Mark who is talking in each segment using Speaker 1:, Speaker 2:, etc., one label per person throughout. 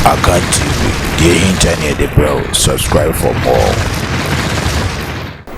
Speaker 1: Akan TV, deɛ ɛhinta ne yɛde brɛ wo, subscribe for more.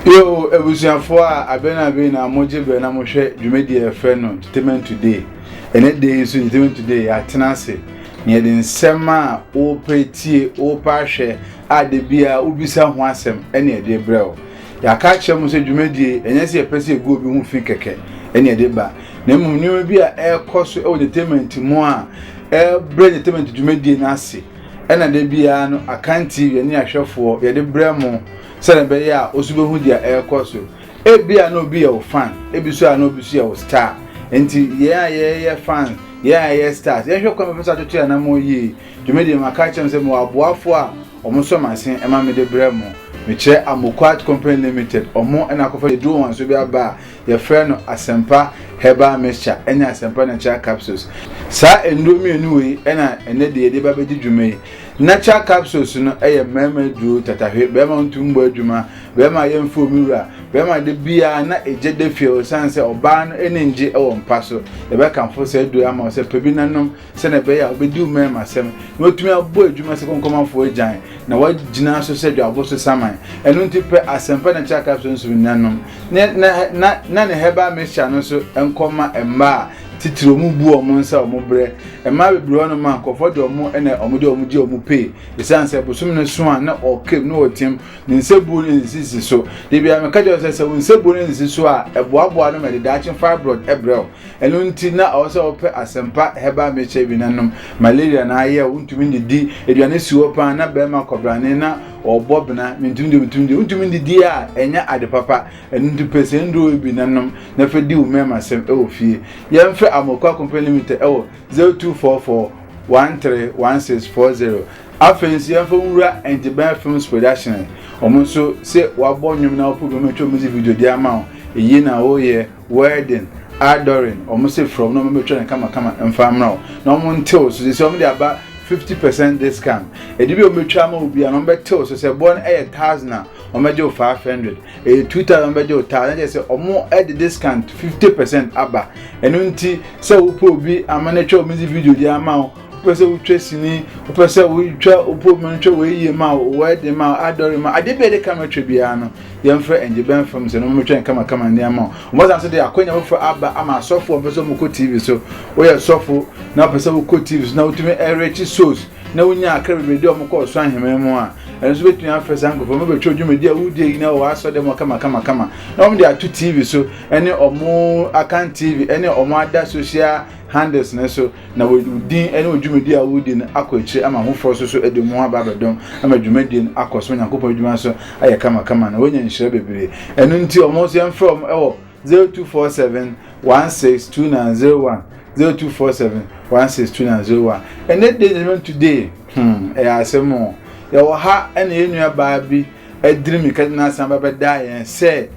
Speaker 2: Yoo abusuafoɔ a abɛn abɛn na mogye bɛn na mohwɛ dwumadie a yɛfrɛ no Entertainment Today ɛnɛ da yi nso Entertainment Today yɛatena ase na yɛde nsɛm a wopɛ tie wopɛ ahwɛ a da bi a wobisa ho asɛm ɛne ɛde brɛ wo Yɛaka akyerɛ mo sɛ dwumadie yi, ɛnyɛ sɛ yɛpɛ sɛ yɛgu obi ho fi kɛkɛ ɛne ɛde ba, na mmom nneɛma bi a ɛrekɔ so wɔ entertainment mu a ɛbrɛ entertainment dwumadie no ase ɛna da biara no Akan TV ne ahwɛfoɔ yɛde brɛ mo sɛdeɛ ɛbɛyɛ a osu bɛhu deɛ ɛrekɔ so. Ebi a na obi yɛ wo fan, ebi so a na obi so yɛ wo star. Nti yɛn a yɛyɛ fans, yɛn a yɛyɛ stars, yɛnhwɛ kwan bɛfa so atoto yɛn anammɔn yie. Dwumadie maka akyerɛ mo sɛ mewɔ aboafoɔ a Ɔmo nso masen ɛma me de brɛ mo. Me kyerɛ Amokwat company limited ɔmo ɛna akɔfa aduro wanso bi aba a yɛ frɛ no Asempa herbal mixture ɛne Asempa natural capsules. Saa nnuro mmienu wei ɛna ɛnɛ de yɛde ba bɛdi dwuma yi. Natural capsules no ɛyɛ mmarima aduro tatahwe, barima ɔntum bɔ adwuma, barima a yɛnfrɛ omi wura, barima de biara na egye da fie ɔsan sɛ ɔbaa no ani ngye ɛwɔ mpa so. Yɛbɛkamfo saa aduro yi ama wo sɛ pɛ bi na nom. sɛnea ɛbɛyɛ a wobedi wo mmarima asɛm na watumi abɔ adwuma sɛ kɔnkɔmafo agyan na wagyina so sɛ dwabɔ so saman. Ɛno nti pɛ asɛmpa na kyerɛ akra so nso nuanom ne na na na ne herbal mixture no nso nkɔma mma a titiri wɔn bu wɔn nsa wɔn brɛ. Mmaa bebree hɔ no ma nkurɔfoɔ de wɔn na wɔn de wɔn gye wɔn pay esiane sɛ bosom no so a na ɔkam na ɔteam ne nsabuo no nsisi so. Debia meka kyerɛ sɛ sɛ wo nsabuo no nsisi so a ɛboaboa no ma ɛde daakye fibroid brɛ wo. ɛno nti na ɔwɔ sɛ wɔpɛ asɛmpa herbal mixture bi na nom malaria na ayɛ wontumi ndidi aduane si hɔ paa na bɛrima kɔbrane na ɔbɔ bena mentumi de mentumi de wontumi ndidi a ɛnyɛ ade papa ɛno nti pɛ sɛ nduro bi na nom na fɛ di wo mmarima sɛm ɛwɔ fie yɛmfɛ amokoa company limited ɛwɔ 0244 131640 afei nso yɛmfa nwura ɛntebɛn films production wɔn nso sɛ wabɔ nnwom na wɔpɛ bi wɔn atwa wɔn dze video di ama wo eyi na wɔyɛ Wedding, Adorin, wɔn se frɛ wɔn na wɔbɛtwa no kamakama mfa mmra wo na wɔn ntew so sisi wɔn de aba fifty percent discount ɛde bi a wɔbɛtwa ama obi a na wɔbɛtew so sɛ ɛboɔ no ɛyɛ thousand a wɔbɛgye wo five hundred ɛyɛ two thousand wɔbɛgye wo thousand ɛkyɛ sɛ wɔn ɛde discount fifty percent aba ɛno nti sɛ wopɛ obi ama no atwa wɔn dzi video de ama wo. wopɛ sɛ wotwa sini wopɛ sɛ wotwa wopɔmu no twɛ wɔyie ma wɔde ma adɔre ma adeɛ bi a ɛde kama twɛ biara no yɛmfrɛ ɛngye bɛn fam sɛ no motwɛ nkama kama nneɛma wɔsan so de akwanya foforɔ aba ama asɔfo a wɔpɛ sɛ wɔkɔ tv so woyɛ sɔfo na wɔpɛ sɛ wokɔ tv so na wotumi ɛrekyi sos na wonya akra bebree de wɔn kɔ ɔsoro ahemman mu a ɛno nso bɛtumi afɛ saa nkurɔfoɔ no bɛtwerɛ dwumadi a wodie yi na wɔwɔ asɔ dɛ mu kama kama kama na wɔn de ato tv so ɛne wɔn akan tv ɛne wɔn ada social handles no so na wɔde wo din ne wo dwumadi a woredi no akɔ akyiri ama afoforɔ nso so de wɔn ho aba abɛdɔm ama dwumadie no akɔ so Onyankopɔn adwuma nso ayɛ kamakama na wɔanya nhyira bebree ɛno nti wɔn nso yɛmfrɛ wɔn wɔ 0247 162901 0247 162901 ɛnɛ day judgment today hmm ɛyɛ asɛm o yɛwɔ ha ɛna yɛn nua baa bi Adrian Mikati na asan ba bɛdaa yɛn sɛ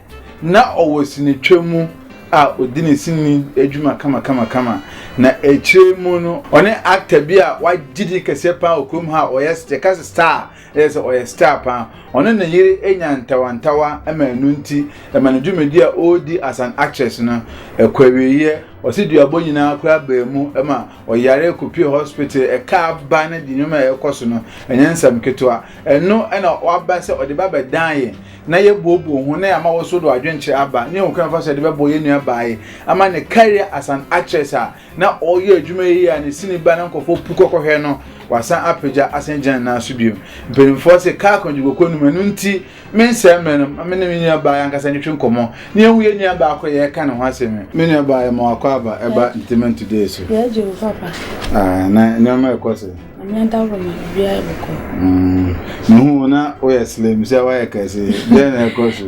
Speaker 2: na ɔwɔ sinitwa mu a odi ne sini adwuma kamakamakama, na akyire mu no ɔne actor bi a wagye din kɛseɛ paa wɔ kurom ha a ɔyɛ yɛka sɛ star ɛyɛ sɛ ɔyɛ star paa ɔne ne yere anya ntawantawa ma ɛno nti ɛma ne dwumadi a ɔredi as an actress no ɛkɔ awieeɛ ɔse duabɔ nyinaa koraa baa mu ma ɔyare kɔpie hospital ɛka aba no de nnwuma a ɛkɔ so no ɛnyɛ nsɛm ketewa ɛno ɛna waba sɛ ɔde ba bɛdan yɛ na yɛbuobuo ho na yɛama wɔso do adwenkyerɛ aba ne yɛhu kwan fa so de bɛbɔ yɛn nua baaye ama ne career as an actress a na ɔyɛ adwuma yie a ne sini ba na nkɔfoɔ pu kɔkɔhwɛ no wasan apagya asan gyina ne nan so bio mpanimfoɔ se kaa kɔngyegokɔ num ɛno nti Mensɛe mmere no ma me ne me nuabaa ankasa ntwetwe nkɔmmɔ na yɛnhu yɛn nuabaa koro a yɛreka ne ho asɛm yi. Me nuabaa yɛ ma wakɔ aba ɛba Ntaman Today so. Yɛagye wo papa.
Speaker 3: Ah, na nneɛma ɛkɔ sɛ. Ame adaworo
Speaker 2: ma biribiara
Speaker 3: ɛbɛkɔ. Mm, mehu
Speaker 2: wo na woyɛ slim sɛ woayɛ kɛse. Dɛn na ɛkɔ so?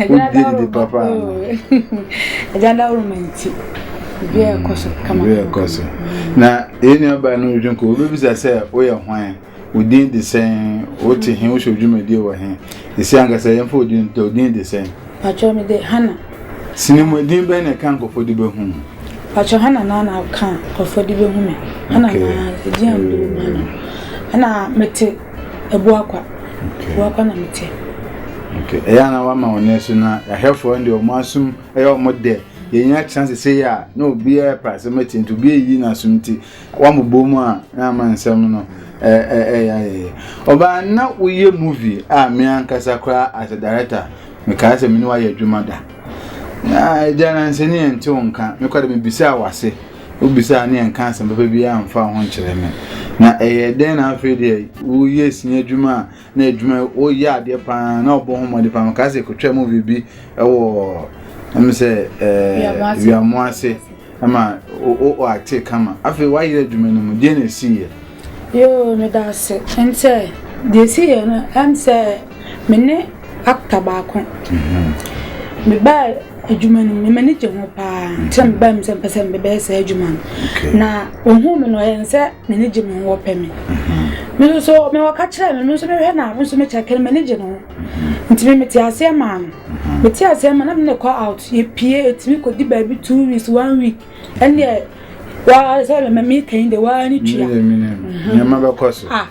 Speaker 2: Wodie didi papa ano.
Speaker 3: Agya adaworo ma nti. Biribiara ɛkɔ so kama. Biribiara ɛkɔ so.
Speaker 2: Na yɛn nuabaa no redwe nkɔ, wobɛbisa sɛ woyɛ hwan? Wo din de sɛn? Wo te he? Wo hyɛ dwumadie wɔ he? Esi ankasa yɛmfa wo din nto, wo din de sɛn? Pakyɛ, me de Hannah.
Speaker 3: Sini mu, edin
Speaker 2: bɛn na ɛka nkurɔfoɔ de bɛhu wo? Pakyɛ, Hannah
Speaker 3: naa na ɛka nkurɔfoɔ de bɛhu me. Hannah naa, edin a wɔde bɛhu Hannah. Ɛna me te Abuakwa. Abuakwa na me te.
Speaker 2: Okay. Ɛyɛ a na wama wɔn nɛ so na
Speaker 3: ahwɛfoɔ
Speaker 2: no deɛ wɔn asom ɛyɛ wɔn dɛ. Yɛn akyina sese yɛ a na obiara pɛ asɛm atie nti obiara yi n'asom ti. Wɔabobɔ mu a na ama nsɛm no ɛyɛ ayɛyɛ. Ɔbaa na woyɛ movie a me ankasa koraa as a director mekaa sɛ me ne wayɛ adwuma da. Na agya nansa ni yɛn ntew nka me kɔde me bisaa wase. Wobisaa ne yɛn ka asɛm papa biara mfa ho nkyerɛ me. Na ɛyɛ dɛn na afei deɛ woyɛ sini adwuma a na edwuma ɔyɛ adeɛ paa na ɔbɔ ho mmɔden paa meka sɛ kɔtwa movie bi ɛwɔ ɛm sɛ ɛɛ wiamo ase ɛma o o acte kama afei wayere adwuma no mu deɛ na esi yɛ. yoo meda
Speaker 3: ase ɛm sɛ deɛ esi yɛ no ɛm sɛ me ne actor baako mhm. me baa. Adwuma no mu no, m'ani gye ho pa ara. Sɛ mebae mu sɛ mepɛ sɛ mebɛyɛ saa adwuma no. Na ohuu me no, ɔyɛɛ no sɛ n'ani gye me ho, ɔpɛ me. Me nso so, me ɔka kyerɛɛ me, me nso mehwɛ no a, me nso mekyɛke no, m'ani gye ne ho. Nti me mete aseɛ maa no. Mete aseɛ ma na me ne kɔ out, yɛpue, yɛtumi kɔdi baabi two weeks, one week. Ɛnneɛ, waa sɛ me meka yi deɛ, waa ne tua. Nneɛma
Speaker 2: bɛkɔ so. Ah.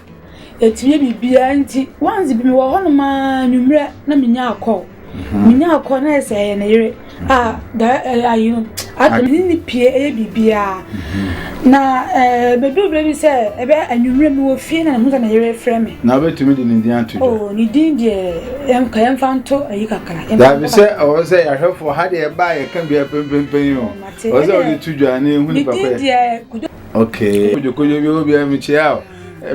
Speaker 2: Atumi
Speaker 3: biribiara nti once bi mewɔ hɔnom ara anwummerɛ na menya akɔ menya akɔ na ɛsɛ ɛyɛ ne yere a ayi no aka me ne pie ɛyɛ biribiara na bɛduru berɛ bi sɛ ɛbɛ anwummerɛ mewɔ fie na mehu sɛ ne yere frɛ me na wobɛtumi de ne din
Speaker 2: ato dwa oh, ne din
Speaker 3: deɛ ka yɛmfa nto ayi kakra daabi sɛ ɔwɔ sɛ
Speaker 2: yɛahwɛfoɔ ha deɛ ɛbaa yɛka bia pɛmpɛmpɛn o ɔwɔ sɛ wode to dwa ne ɛhu nipa kɔyɛ okay kodwokodwo bi wɔ bia mekyia o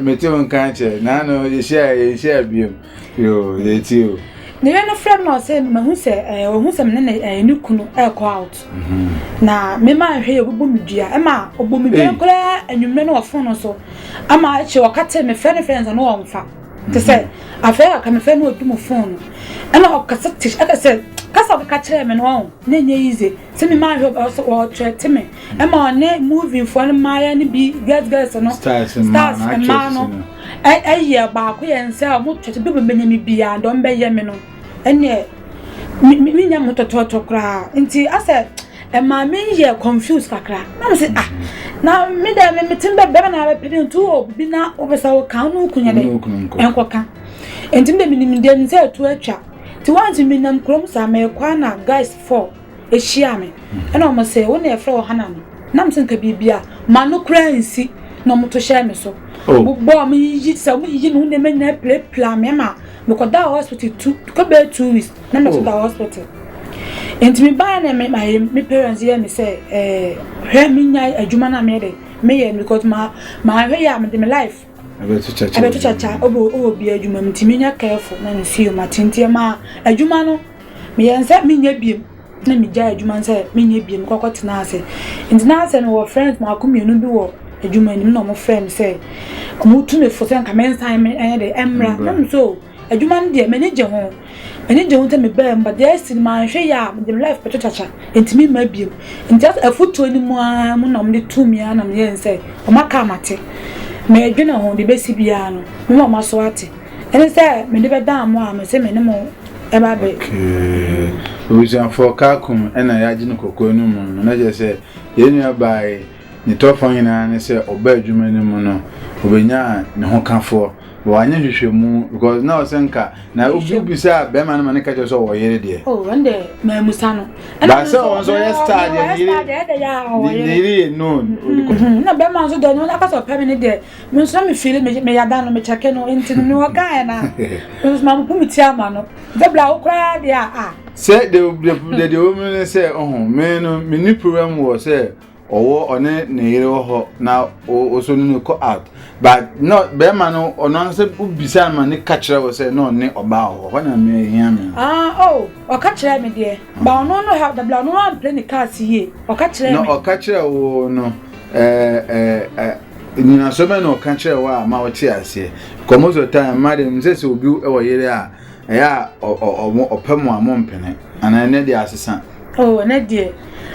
Speaker 2: Mete wo nka nkyɛ. Naano yɛhyiaeɛ yɛnhyia biom. Yoo yɛ ti o. Ne yere no frɛ me na
Speaker 3: ɔsɛ mahu sɛ ɛɛ eh, ɔhu sɛ me ne ne ɛɛ eh, ne kunu ɛrekɔ out. Mhm. Na me maa nhwɛ yɛ ɔbɛbɔ me dua ɛma ɔbɔ me dua koraa anwummerɛ no wɔ fon no so ama ɛkyɛ ɔka te me frɛ ne frɛ nsa no ɔmfa te sɛ mhm. afei aka me frɛ no ɔdu mu fon no ɛna ɔkasa te ɛka sɛ kasa ɔkeka kyerɛ me no ɔn na ɛnyɛ yize sɛ me maa nhwɛ ɔsɛ ɔkyerɛ te me ɛma ɔne movie foɔ no mmaayɛ no bi girls girls no stars mmaa no ɛyɛ baako yɛn sɛ ɔmo tɔtɔ bi bɛbɛnya me biara dɔm bɛyɛ me no ɛneɛ me nya mo tɔtɔtɔ koraa nti asɛ ɛmaa me yɛ confuse kakra na me sɛ ah na me dɛ me metem dɛ bɛma na bɛpɛ dɛ nti wɔ bi na wopɛ sɛ woka wo ne wo kunya dɛ ɛnkɔka nti me dɛ menim dɛ me sɛ ɛto atwa nti wɔn nti menam kurom saa mɛkɔ na guys four hyiaa me. Ɛna wɔn sɛ, Wo na yɛfrɛ wɔ Hana no? Nam sɛ nka biribi a m'ano koraa nsi na wɔn to hyɛɛ me so. Oh. Wɔn bɔɔ me yiyi sɛ wɔn yiyi me ho nneɛma nyinaa pilapila me ma mekɔda hospital tu kɔ bɛyɛ two weeks na mɛ so da oh. hospital. Nti me baa na me ma me parents yɛ me sɛ ɛɛ eh, hwɛ me nya adwuma na meyɛ de meyɛ no because ma ma hwɛ yɛ a me de me life. Ɛbɛto kyakya wɔ Ɛbɛto kyakya adwuma mu. wɔ wɔ bia adwuma mu nti menya careful na mefii mu ate nti ɛmaa adwuma no meyɛɛ no sɛ menyɛ biom na megyae adwuma no sɛ menyɛ biom mekɔkɔ tenaa ase nti na sɛ mewɔ friends mako mmienu bi wɔ adwuma no mu na wɔfrɛ me sɛ wɔtu me fo sɛ nka mensan me ɛnyɛ dɛ ɛmmra Ɛmmra. na me sɛ o Edwuma no deɛ m'ani gye ho, m'ani gye ho ntsi mebaa mu but dza esi no mannhwɛ yie a medze me life bɛto kyakya ntsi memmaa bio ntsi asɛ afotuo no mu ara mu na wɔde too me ara na meyɛɛ no sɛ wɔaka a mate, meedwene ho, dza ebesi biara no mema moaso ate ɛne sɛ mede bɛdaa mo a mese mene mo ɛba abɛ. Okay,
Speaker 2: Ebusuafoɔ Kaakum ɛna yɛagye no kɔkɔɔ no mu no na kyerɛ sɛ yɛn nua baa yi. Ne tɔfoɔ nyinaa ne sɛ ɔba adwuma no mu no obenyaa ne ho kafoɔ but wanyɛ nhwehwɛmu because na ɔsɛ nka na obi bisa bɛrima no ma ne ka kyerɛ sɛ ɔwɔ yere deɛ. o oh, ɛnde maamusa
Speaker 3: no. baasɛ wɔn nso ɔyɛ
Speaker 2: star deɛ ne yere ne yere yɛ known. Mm-hmm. na bɛrima
Speaker 3: nso deɛ ɔno akasa ɔpɛ mi ne deɛ mi nso na mi fili mi mi yada no mi kyɛke no nti no mi wɔ kaa yɛ na mi nso ma mo pu mi ti ama no nti bila okura deɛ a. sɛ de
Speaker 2: de de de wɔn mu ne sɛ ɔho mɛ no mi ni problem wɔ sɛ. Ɔwɔ ɔne ne yere wɔ hɔ na ɔsɔ no no kɔ out but na bɛrima no ɔno ankasa wobisa no ma ne ka kyerɛ wɔ sɛ na ɔne ɔbaa wɔ hɔ hɔ na me hia me no. Ah oh ɔka
Speaker 3: kyerɛ me deɛ ba ɔno no ha dabla ɔno ampere ne cars yie ɔka kyerɛ me. Na ɔka kyerɛ wo
Speaker 2: no ɛɛ ɛɛ nyinasoɔ bɛn na ɔka kyerɛ wo a ma wote aseɛ because most of the time mma deɛ nim sɛ sɛ obi wɔ yere a Ɛyɛ a ɔ ɔ ɔmo ɔpɛ mo a mo mpene anaa ɛnɛ deɛ asesa. Oo oh, ɛnɛ deɛ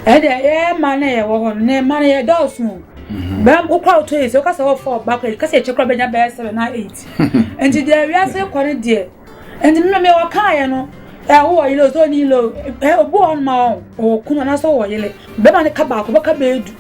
Speaker 3: ɛyɛ deɛ ɛyɛ mmaa na yɛwɔ hɔ no na mmaa na yɛ dɔɔso. Mhm. Bɛm wokɔ a wotɔ yi sɛ wokasa wɔ fɔ ɔba kɔ yi kasa ɛkyɛ kora bɛnya bɛyɛ sɛbɛ na eight. Nti deɛ wiase kɔ no deɛ nti mmɛ mmɛ wɔkaayɛ no ɛ wowɔ yele o sɛ ɔni yele o ɛ obu wɔn ma wɔn ɔwɔ kunu anaasɛ ɔwɔ yele bɛma ne ka baako bɛka bɛyɛ du.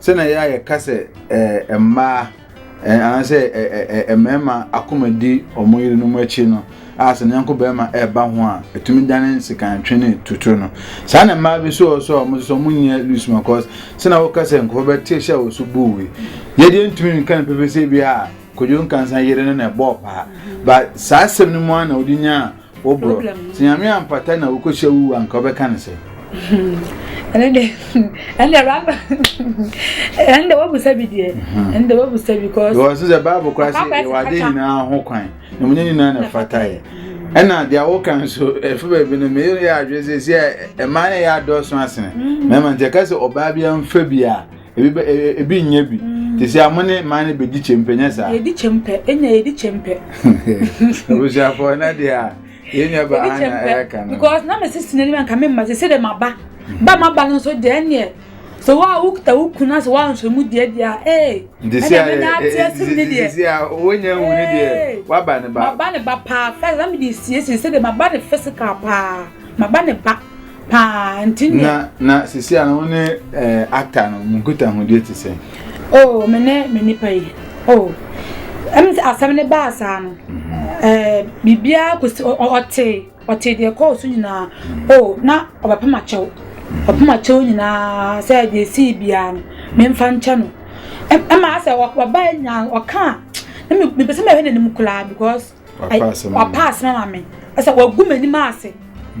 Speaker 2: Sɛnea ɛyɛ a yɛka sɛ mmaa anaasɛ mmarima akoma di wɔn yerenom akyi no a sɛ ne yɔnko barima ɛreba ho a ɛtumi dane nsekantwe ne tutu no saa na mmaa bi nso wɔ so a wɔn nso wɔn nyɛ loose ma kɔs sɛnea wɔka sɛ nkɔfo bɛte hyɛ wɔ so buu wi yɛdeɛ ntumi nka no pɛpɛ sɛ bi a kodwo nkansa yere no na ɛbɔɔ paa ba saa asɛm no mu a na wɔde nyaa Wo bro sɛ nyame ampata na wokohyia wuwu a nka wobɛka ne sɛ. ɛne
Speaker 3: de ɛne raba ɛne de wabusa bi deɛ ɛne de wabusa bi kɔ. yɛ ɔsi sɛ baabu kora
Speaker 2: sɛ yɛ wade nyinaa ho kwan na mo nyɛ nyinaa na fata yɛ ɛna deɛ awo kan so ɛfɛ baabi no meyɛ yɛ adwene sɛ sɛ ɛmaa na ɛyɛ adɔɔso asene mɛma nti ɛka sɛ ɔbaa bi anfa bi a. Ebi bɛ e, e, ebi nyɛ bi. Te sɛ amo ne mmaa no bɛdi kyɛmpɛ nyɛ saa. Yɛdi kyɛmpɛ, ɛnya
Speaker 3: yɛdi kyɛmpɛ.
Speaker 2: Abusuafoɔ na deɛ a yɛn nua ba ana ɛka no. Because na mesi si n'anim anka
Speaker 3: me mma sɛ sɛ dɛ ma ba. Ba ma ba no nso deɛ ɛneɛ. So wa wo kuta wo kun ase wa nso mu deɛ deɛ a ee. Nti si a ɛna na
Speaker 2: ate asim ne deɛ. Si a wonya hu ne deɛ wa ba ne ba. Ma ba ne ba paa
Speaker 3: fɛ na me de siesie sɛ dɛ ma ba ne physical paa. Ma ba ne ba. paa nti ne. na na sisi a
Speaker 2: wo ne ɛɛ actor no mo nkitahodie te sɛn. oh me ne
Speaker 3: me nipa yi oh ɛm sɛ asɛm ne baa saa no ɛɛ biribiara kɔsi ɔte ɔte deɛ ɛkɔɔ so nyinaa oh na ɔbɛpem akyɛw ɔpem akyɛw nyinaa sɛ deɛ esii biara no memfa nkyɛ no ɛma asɛ ɔbaa nyinaa ɔka a na mepɛ sɛ mɛhwɛ n'anim koraa because. wapa asɛm ama me sɛ wagu m'anim ase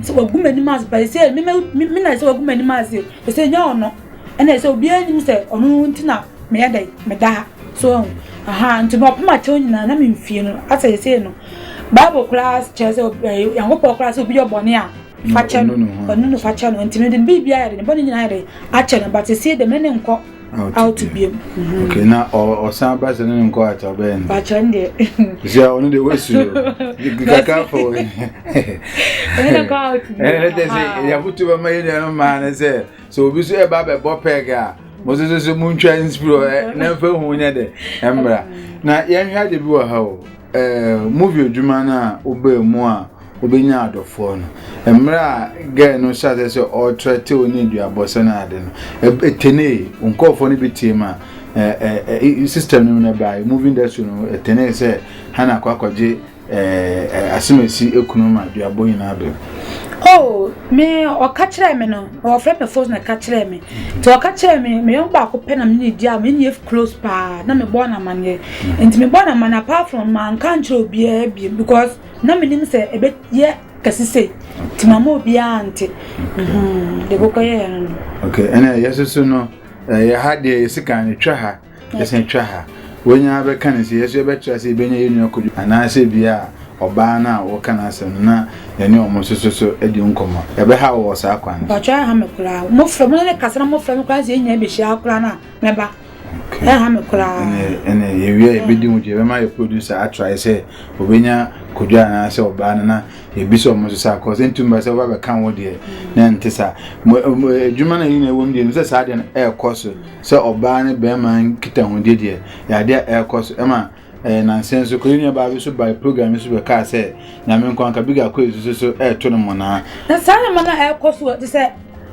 Speaker 3: sɛ wagu m'anim ase pa sɛ me me na sɛ wagu m'anim ase sɛ nya ɔno ɛna sɛ obiara nim sɛ ɔno nti na meyɛ dɛ meda ha so ɛho aha nti na ɔpem akyɛw nyinaa na memfie no asɛ yɛsɛ no bible koraa kyerɛ sɛ nyankopɔn koraa sɛ obi yɛ bɔne a fakyɛ no ɔno no fakyɛ no nti mede biribiara yɛde ne bɔne nyinaa yɛde akyɛ no batɛsie dɛ me ne nkɔ out biam mhm. okay na
Speaker 2: ɔsan ba sɛ ne ne nkɔ ata ɔbɛyɛ no bakyɛ no deɛ
Speaker 3: sɛ ɔno deɛ
Speaker 2: wasu kakra fo
Speaker 3: ɛne kyɛ sɛ
Speaker 2: yɛafoto bɛma yɛ nuanom maa no sɛ sɛ obi so ɛba bɛbɔ pɛg a mo so so montwa nspiro na mfa hu nyɛ dɛ ɛmmra na yɛnhwɛ ade bi wɔ ha o movie adwuma no a wobaa mu a Wobenyaa adɔfoɔ no. Mmerɛ a girl no hyɛ aseɛ sɛ ɔretrɛte wo ne aduabɔ sɛ ne ade no, ɛtenee. Wo nkurɔfoɔ no bi tee ma system no mu no baeɛ, movie industry no ɛtenee sɛ Hannah akɔ akɔgye asɛm a ɛsi kunu ma aduabɔ nyinaa bɛm. Oh,
Speaker 3: me ɔka kyerɛɛ me no, ɔfrɛ me fos na ɛka kyerɛɛ me. Nti ɔka kyerɛɛ me, me yɔnko baako pɛ na me ne di a me ne close paa na mebɔɔ no amanneɛ. Nti mebɔɔ no amanneɛ apart from manka nkyerɛ obiara biem because Na menim sɛ ɛbɛyɛ kɛse sei, nti mamma obiara ante. Mhmm, deɛ ɛkɔkɔyɛeɛ no no. Ok, ɛnna
Speaker 2: yɛn nso so no, yɛn ha deɛ yɛsi kan no, twa ha, yɛsan twa ha. Wanya ara bɛka no sɛ yɛn nso yɛbɛtra sɛ yɛbɛnya yɛn nua Kojo anaasɛ bi a ɔbaa no a woka n'asɛm no na yɛne wɔn nso so so adi nkɔmmɔ. Ɛbɛhaw wo wɔ saa kwan no so? Mpakyɛw, ɛnha me koraa.
Speaker 3: Mofrɛ, mo ne no kasa na mofrɛ me koraa sɛ yɛn nyinaa bɛhyia ara koraa no a. Mɛba. Okay. Ɛha me koraa. Ɛnɛ ɛnɛ yɛwie
Speaker 2: a yɛbɛdi ho dwa yɛbɛma yɛ producer atrae sɛ ɔbɛnya kodwa anaasɛ ɔbaa no na yɛbisa ɔmo nso saa kɔs ɛntum ba sɛ ɔba bɛka wo deɛ mm. na ɛnte saa adwuma no yɛnyina ɛwɔ mu deɛ no sɛ saa deɛ no ɛrekɔ so sɛ ɔbaa ne bɛrima nkitahodie deɛ yɛadeɛ ɛrekɔ so ɛma Ɛyɛ nnansa nso kɔ, yɛn nuabaa bi nso bae program yi so bɛkaa sɛ, Nyame nko anka bi gakɔ esusu so ɛreto no mmonnaa. Na saa nneɛma no ɛrekɔ
Speaker 3: so te sɛ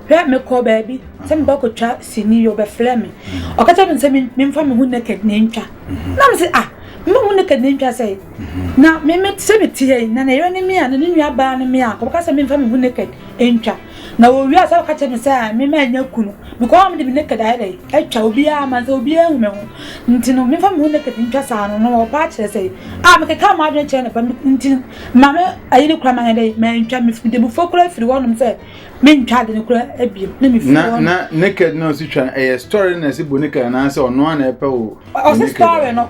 Speaker 3: hwɛ mekɔ baabi sɛ meba kɔtwa sini yɛ ɔbɛfrɛ me ɔka kyerɛ me sɛ memfa me ho naked na ɛntwa mhm. na me sɛ ah mema ho naked na ɛntwa sɛ mhm. na meme sɛ meteɛ na ne yere ne me a na ne nuabaa ne me a kɔbɛka sɛ memfa me ho naked ɛntwa Na wɔwie a, sɛ wɔka kyerɛ me sɛ me mannya kunu, because a mede me naked ayɛ dɛ atwa obiara ama sɛ obiara ahu me ho nti no, memfa me ho naked ntwa saa no, na wɔwɔ paa kyerɛ sɛ a mekeka m'adwene kyerɛ no pa nti no, ma me ayi no koraa manyɛ dɛ mantwa, mefiri Dabufoɔ koraa firi hɔnom sɛ mentwa ade no koraa bio, na mefiri na hɔnom. na naked na
Speaker 2: ɔsi twa no ɛyɛ story na ɛsi bo naked anaasɛ ɔno ara na ɛpɛ wo Ɔse naked story a? no.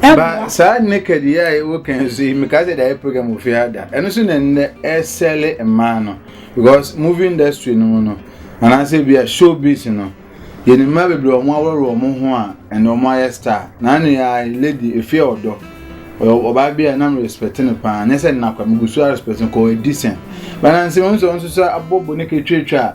Speaker 3: ba
Speaker 2: saa naked yi a ɛwɔ kan so yi meka sɛ daeɛ program ofi ha da ɛno so na nnɛ ɛsɛle mmaa no because movie industry no mu no anaasɛ bi a show biz no yɛn mmaa bebree wɔn aworɔworɔ wɔn ho a ɛnna wɔn ayɛ star na ne yɛ lady efi ɔdɔ ɔbaa bi a nam respect no paa nyɛ sɛ nnakwa megu so respect no kɔ ɛdi sɛn banansi wɔn nso wɔn nso sɛ abɔbɔ ne ketwetwa a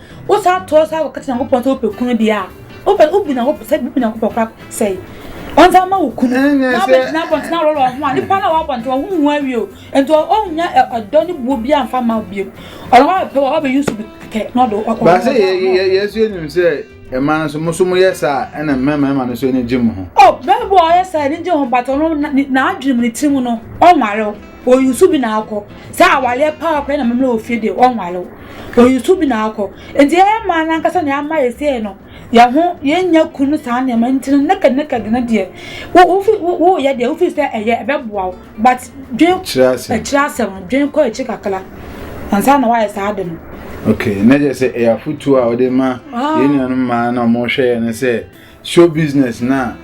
Speaker 3: Wosan toa so ara kɔka kyerɛ Nyankopɔn sɛ wopɛ kunu deɛ a, wopɛ wobu Nyankopɔn sɛ wobu Nyankopɔn kora sɛe. Ɔnsan mma wo kunu na wobɛgyina abɔnten aworɔworɔ wo ho a, nipa no a ɔwɔ abɔnten hɔ ho nhu awie o. Nti ɔnnya ɔdɔ ne buo biara mfa mma wo bio. Ɔno ara bɛpɛ wo, ɔbɛ use bi kɛkɛ na ɔde wo. Baasɛ yɛ yɛ
Speaker 2: yɛ nso yɛnim sɛ mmaa nso mo nso moyɛ saa ɛna mmarima no nso ani gye mo ho. Oh bɛrima bi ɔyɛ
Speaker 3: saa ani gye ho but ɔno n'adwene mu ne tirim no ɔnware wo. Ɔyusu bi na akɔ sɛ awareɛ paa ɔkɔyɛ na mammerɛ wɔ fie deɛ ɔnware wo. Oyi so bi na akɔ. Enti yɛyɛ mmaa no ankasa na ama yɛ sei no, yɛn ho, yɛnnya kun no saa nneɛma nti no naked naked no deɛ, wo wofi wo yɛ deɛ wofi sɛ ɛyɛ ɛbɛboa wo but dwen akyire asɛm akyire asɛm no dwen kɔ akyire kakra ansa na wayɛ saa de no. Okay, na kyerɛ
Speaker 2: sɛ ɛyɛ afotuo a wɔde ma yɛn nuanom mmaa na wɔhwɛ yɛn no sɛ show business na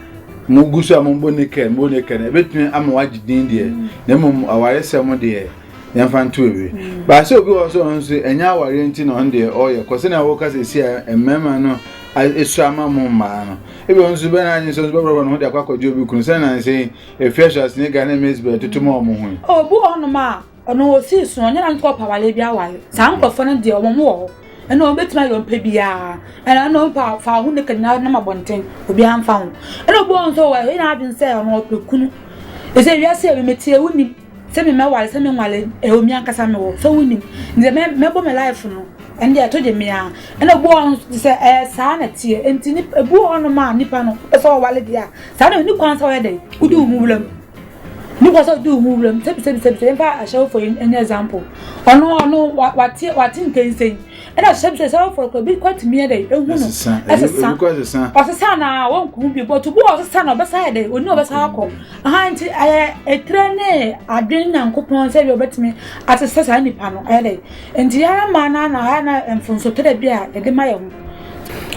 Speaker 2: mo gu so a mo bɔ nika mo bɔ nika na ebetumi ama wagye din deɛ mm. na mmom awaresɛm deɛ yɛmfa nto ebi mm. baasa obi wɔ so ɔno nso ɛnyɛ awareɛ nti na ɔno deɛ ɔyɛ kɔ sɛnea wɔka sɛ si a mmarima no esu ama mo mmaa no ebi ɔno nso bɛn n'adwene sɛ ɔno bɛbɛrɛ no ho de akɔ akɔgye obi kunu sɛnea nansi efi ɛhyɛ ase ne ghana maize bɛrɛ tutu ma ɔmo ho yi. obu hɔnom a
Speaker 3: Ɔno ɔsii so no ɔnyɛ nanka ɔpɛ awareɛ bi aware saa nkorɔfoɔ no deɛ wɔn wɔ hɔ ɛna wɔn bɛtumi ayɛ wɔn pɛ biara ɛna ɛna wɔn pɛ fa ho naked na nam abɔnten obiara mfa ho ɛna obi wɔn nso wɔyɛ n'adwene sɛ ɔno ɔpɛ kunu ɛsɛ wiase ɛbi metie wonim sɛ me mɛware sɛ me nware ɛwɔ mi ankasa me wɔ sɛ wonim ne sɛ mɛbɔ me life no ɛne deɛ ɛto gye mmea ɛna obi wɔn nso sɛ ɛyɛ saa na tie nti ebi wɔn no ma nipa no ɛsɛ ɔware deɛ saa na ne kwan sɛ ɔyɛ dɛ wodi wo ho wuram No kɔ sɛ du mu wura mu sɛbisɛbisɛbisɛ yɛn fa ahyɛwofo yi ɛnyɛ example ɔno ɔno wate wate nkɛnsɛn ɛna sɛbisɛ sɛ ɔfɔ kɔ bi kɔ tumi yɛ dɛ ehu no ɛsesa ɔsesa na wɔn kɔn bi bɔtɔ bu ɔsesa na ɔbɛsa yɛ dɛ oni ɔbɛsa akɔ ahan ti ɛyɛ etire ne adwene nyankopɔn sɛ bi ɔbɛtumi asesa saa nipa no ɛyɛ dɛ nti yɛn mmaa na na ayɛ na mfonso tɛrɛ bi a yɛde ma yɛ ho.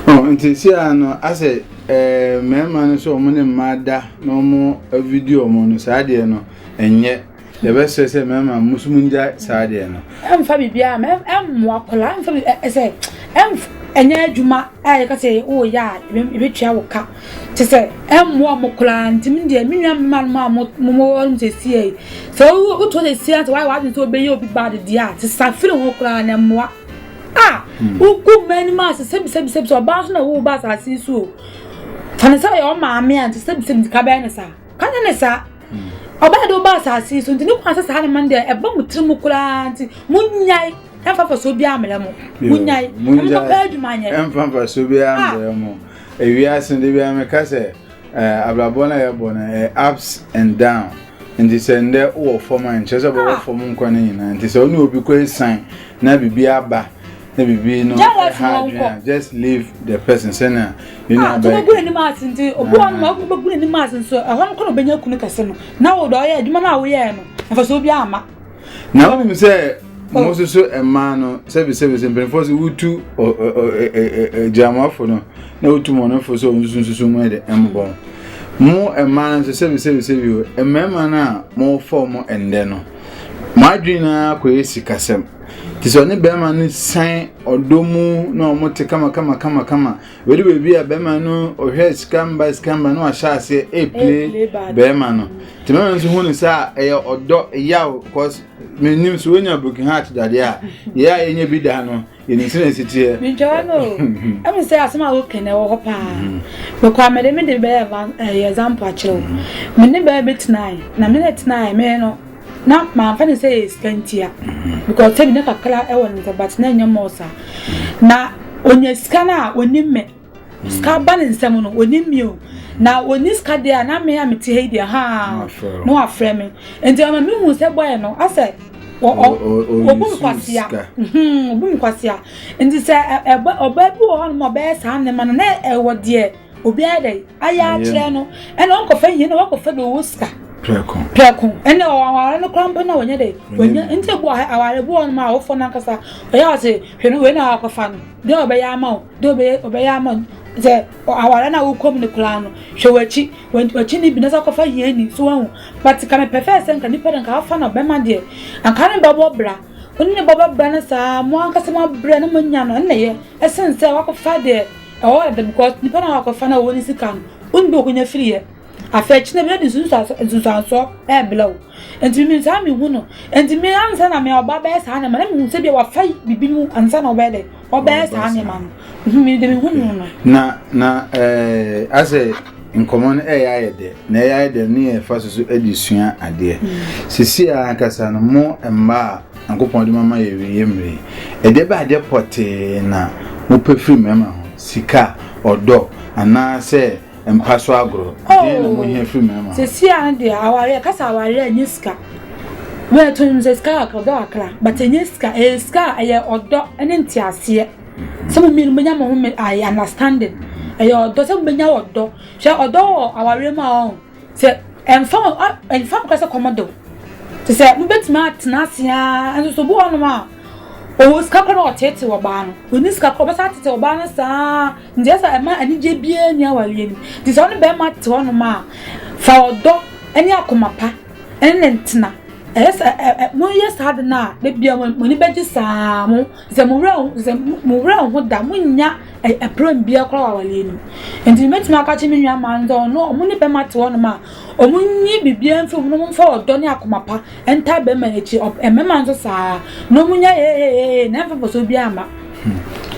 Speaker 3: ɔ nti
Speaker 2: si ano asɛ. Ɛɛ mmarima no sɛ wɔn ne mmaa da na wɔn video wɔn no saa deɛ no ɛnyɛ yɛbɛsrɛ sɛ mmarima mo nso mo ngya saa deɛ no. ɛmfa biribi a
Speaker 3: ɛmmoa kɔla ɛmfa bi ɛsɛ ɛmf ɛnyɛ adwuma a yɛka sɛ wɔreyɛ a ɛbɛtua wo ka te sɛ ɛmmoa mo kɔla ntumi deɛ me nua mma no a mo mo mo wɔn sɛ si yɛ sɛ wotu sɛ si yɛ sɛ wɔayɛ wɔadwene sɛ wɔbɛyɛ obi bad deɛ a sesa firi ho kɔla na ɛmmoa. a wogu mmaa anim ase sɛbisɛbisɛbi sɛ ɔbaa nso na ɛwɔ ba asase yi so o fa ne sɛ ɔyɛ ɔmaame a nti sɛbisɛbi nti ka bɛyɛ ne saa ka nyɛ ne saa ɔbaa de ɔba asase yi so nti ne kwan sɛ saa ne ma no deɛ ɛba mu tiri mu koraa nti monyae ɛmfa fa so biara mmerɛ mo monyae ɛmfa paa adwuma nyɛ ɛmfa fa so biara
Speaker 2: mmerɛ mo ewiase de biara meka sɛ Eh, abrabɔ no a yɛbɔ no eh, ups and down nti sɛ ndɛ wowɔ fam a nkyerɛ sɛ bɛwɔ ah. fam nkwa no nyinaa nti sɛ wone obi kɔ asian na biribi aba na biribi no ɛha adwene a just leave the person sɛnea yɛne ah, abɛyɛ ɔbɛgu n'anim ase nti
Speaker 3: obi wɔ no ɔbɛgu n'anim ase nso ɛhɔ no kɔ na ɔbɛnya kunu kɛse no na wɔ dɔ ɔyɛ adwuma no a woyɛɛ no mfasoɔ bi ama na wonim sɛ
Speaker 2: oh. mo nso so mmaa no sɛbisɛbi sɛ mpanimfoɔ sɛ wotu agyinamafo no na wotu mmɔnefo sɛ wɔn nso nsusu mu de mmobɔ mo mmaa no nso sɛbisɛbi sɛbi o mmarima no a mofɔ mo ɛndɛ no mo adwene no ara kɔyɛ sikasɛm nti sɛ ɔne barima no san ɔdɔ mu na wɔte kama kama kama kama Wei de baabi a bɛrima no ɔhwɛ sika mba sika mba na wahyɛ aseɛ ɛpile bɛrima no nti mɛma nso hu no sɛ a ɛyɛ ɔdɔ yaw cause menim so wonya broken heart dadeɛ a yɛ a yɛnyɛ bi da no yɛnim sɛ na ɛsiteɛ mentwawa no
Speaker 3: ɛmu sɛ asɛm a woka na ɛwɔ hɔ paa mekɔ a mede mede bɛyɛ example akyerɛ wo me ne bɛɛ bɛtenae na me ne tenae me no na mamfa ne sɛ ɛyɛ sika ntia because sɛ na kakra ɛwɔ ne nsa but na ɛnyɛ mɔɔ saa na ɔnya sika no a ɔnim me sika ba ne nsɛm no ɔnim me o na ɔni sika deɛ a na me a mete ha yi deɛ haa na wafrɛ me nti ama mehu sɛ bɔɛ no asɛ ɔbu nkwasea ɔbu nkwasea nti sɛ ɔbaa bi wɔ hɔ nom ɔbɛyɛ saa nnema no na ɛwɔ deɛ obi ayɛ dɛ ayɛ akyerɛ no ɛna ɔnkɔfa hia na wakɔfa dɛ ɔwɔ sika prɛko prɛko ɛna aware no kora mpo na wɔnyɛ dɛ wɔnyɛ nti ebu aware bu wɔn ma awofo no ankasa ɔyɛ ɔse hwɛ no wei na wakɔfa no dɛ ɔbɛyɛ ama wo dɛ ɔbɛyɛ ɔbɛyɛ ama wo sɛ aware na wokɔ mu no koraa no hwɛ w'akyi w'akyi ne bi na sɛ akɔfa hia ni so wɔn but ka mepɛ fɛ sɛ nka nipa de nka afa na ɔbɛma deɛ anka ne bɛbɔ bra ɔne ne bɛbɔ bra no saa mo ankasa mo abrɛ na mo anya no ɛna yɛ ɛsen sɛ wakɔfa deɛ Ɔwɔ ɛbɛ because nipa na wakɔfa na ɔwɔ ne sika no woni bɛ okonya firi yɛ afɛ akyi na bɛ de nsunsuansoɔ ɛɛblɛ wo nti mimi saa mi hu no nti mi ansa na mi ɔba bɛyɛ saa nneɛma na mi hu sɛ bi a wafa bibi no ansa na ɔbɛyɛ dɛ ɔbɛyɛ saa nneɛma no mi de mi hu no no. Na na
Speaker 2: ɛɛ asɛ nkɔmɔ no ɛyɛ ayɛ dɛ na ɛyɛ ayɛ dɛ ne yɛ fa soso ɛde sua adeɛ mm. sisi ankasa no mo mmaa Nyankopɔn de mama yɛ awieyɛ mmere yi. Ɛdeɛ bɛn adeɛ pɔtee na mopɛ firi mmarima ho? Sika, ɔdɔ, anaasɛ mpa so agorɔ? Deɛn na mohia firi mmarima ho? Sɛsi a no deɛ
Speaker 3: awareɛ, yɛka sɛ awareɛ a ɛnyɛ sika. Wei to no sɛ sika kakra, ɔdɔ kakra, but ɛnyɛ sika. Ɛyɛ sika a ɛyɛ ɔdɔ ne nteaseɛ. Sɛ mo mmienu mobɛnya mo ho understanding. Ɛyɛ ɔdɔ sɛ mobɛnya ɔdɔ. Hwɛ ɔdɔ wɔ awareɛ mu a ɔho. Sɛ ɛmfa ho ɛ, ɛmfa ho koraa sɛ kɔm de wo, te sɛ mobɛtumi atena ase ara, nanso sɛ obi wɔ hɔnom a, ɔwɔ sika koraa na ɔteetee ɔbaa no, ɔnni sika koraa, ɔbɛsan ateetee ɔbaa no saa ara, nti ɛsɛ sɛ ɛma anigyeɛ biara nni awareɛ no mu. Nti sɛ wo ne barima te hɔnom a, fa ɔdɔ ne akoma pa ne no ntena, ɛyɛ sɛ ɛ, ɛ, moyɛ saa ade no a, da biara mo ani bɛgye saa ara, mo. Sɛ mo werɛ ho sɛ mo werɛ ho da mo nya ɛpram bia koraa wɔ awareɛ no mu nti mɛtumi aka kye me nua maa no sɛ ɔno ɔmo ne bɛma te hɔ nom a ɔmo nyi bibia mfiri ɔmo mfa ɔdɔ ne akoma pa ntaa bɛma n'akyi ɛmɛma nso saa na ɔmo nya hehehehe na ɛmfa fasoɔ bia mma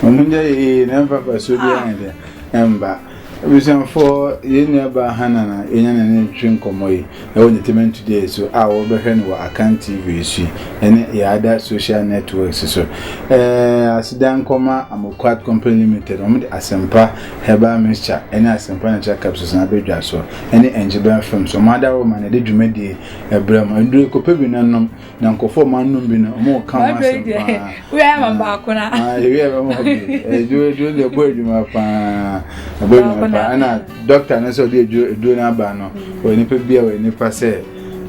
Speaker 3: ɔmo
Speaker 2: nya hehehe na ɛmfa fasoɔ bia mma ɛmba Abusuafo, yɛn nuabaa Hannah na yɛanya ne no retwetwe nkɔmmɔ yi wɔ Entertainment Today so a wɔbɛhwɛ no wɔ Akan TV so yi ne yɛn other social networks so. Ɛɛɛ aseda nkɔma Amoquat Company Limited, wɔde Asempa Herbal Mixture ne Asempa Natural Capsules na abɛdwa so, ne Engyben Films, wɔn adaworo ma na yɛde dwumadie yi brɛ mo. Nnuro yi, kɔpɛ bi na nom. na nkɔfɔ ma nnum bi no ɔmo ka ho asɛm paa wia ma baako
Speaker 3: na ah wia bɛ ma bi
Speaker 2: eduro eduro de ɛbɔ edwuma paa ɛbɔ edwuma paa ɛna dɔkta no sɛ ɔde eduro eduro no aba no ɔyɛ nipa bi a ɔyɛ nipa sɛ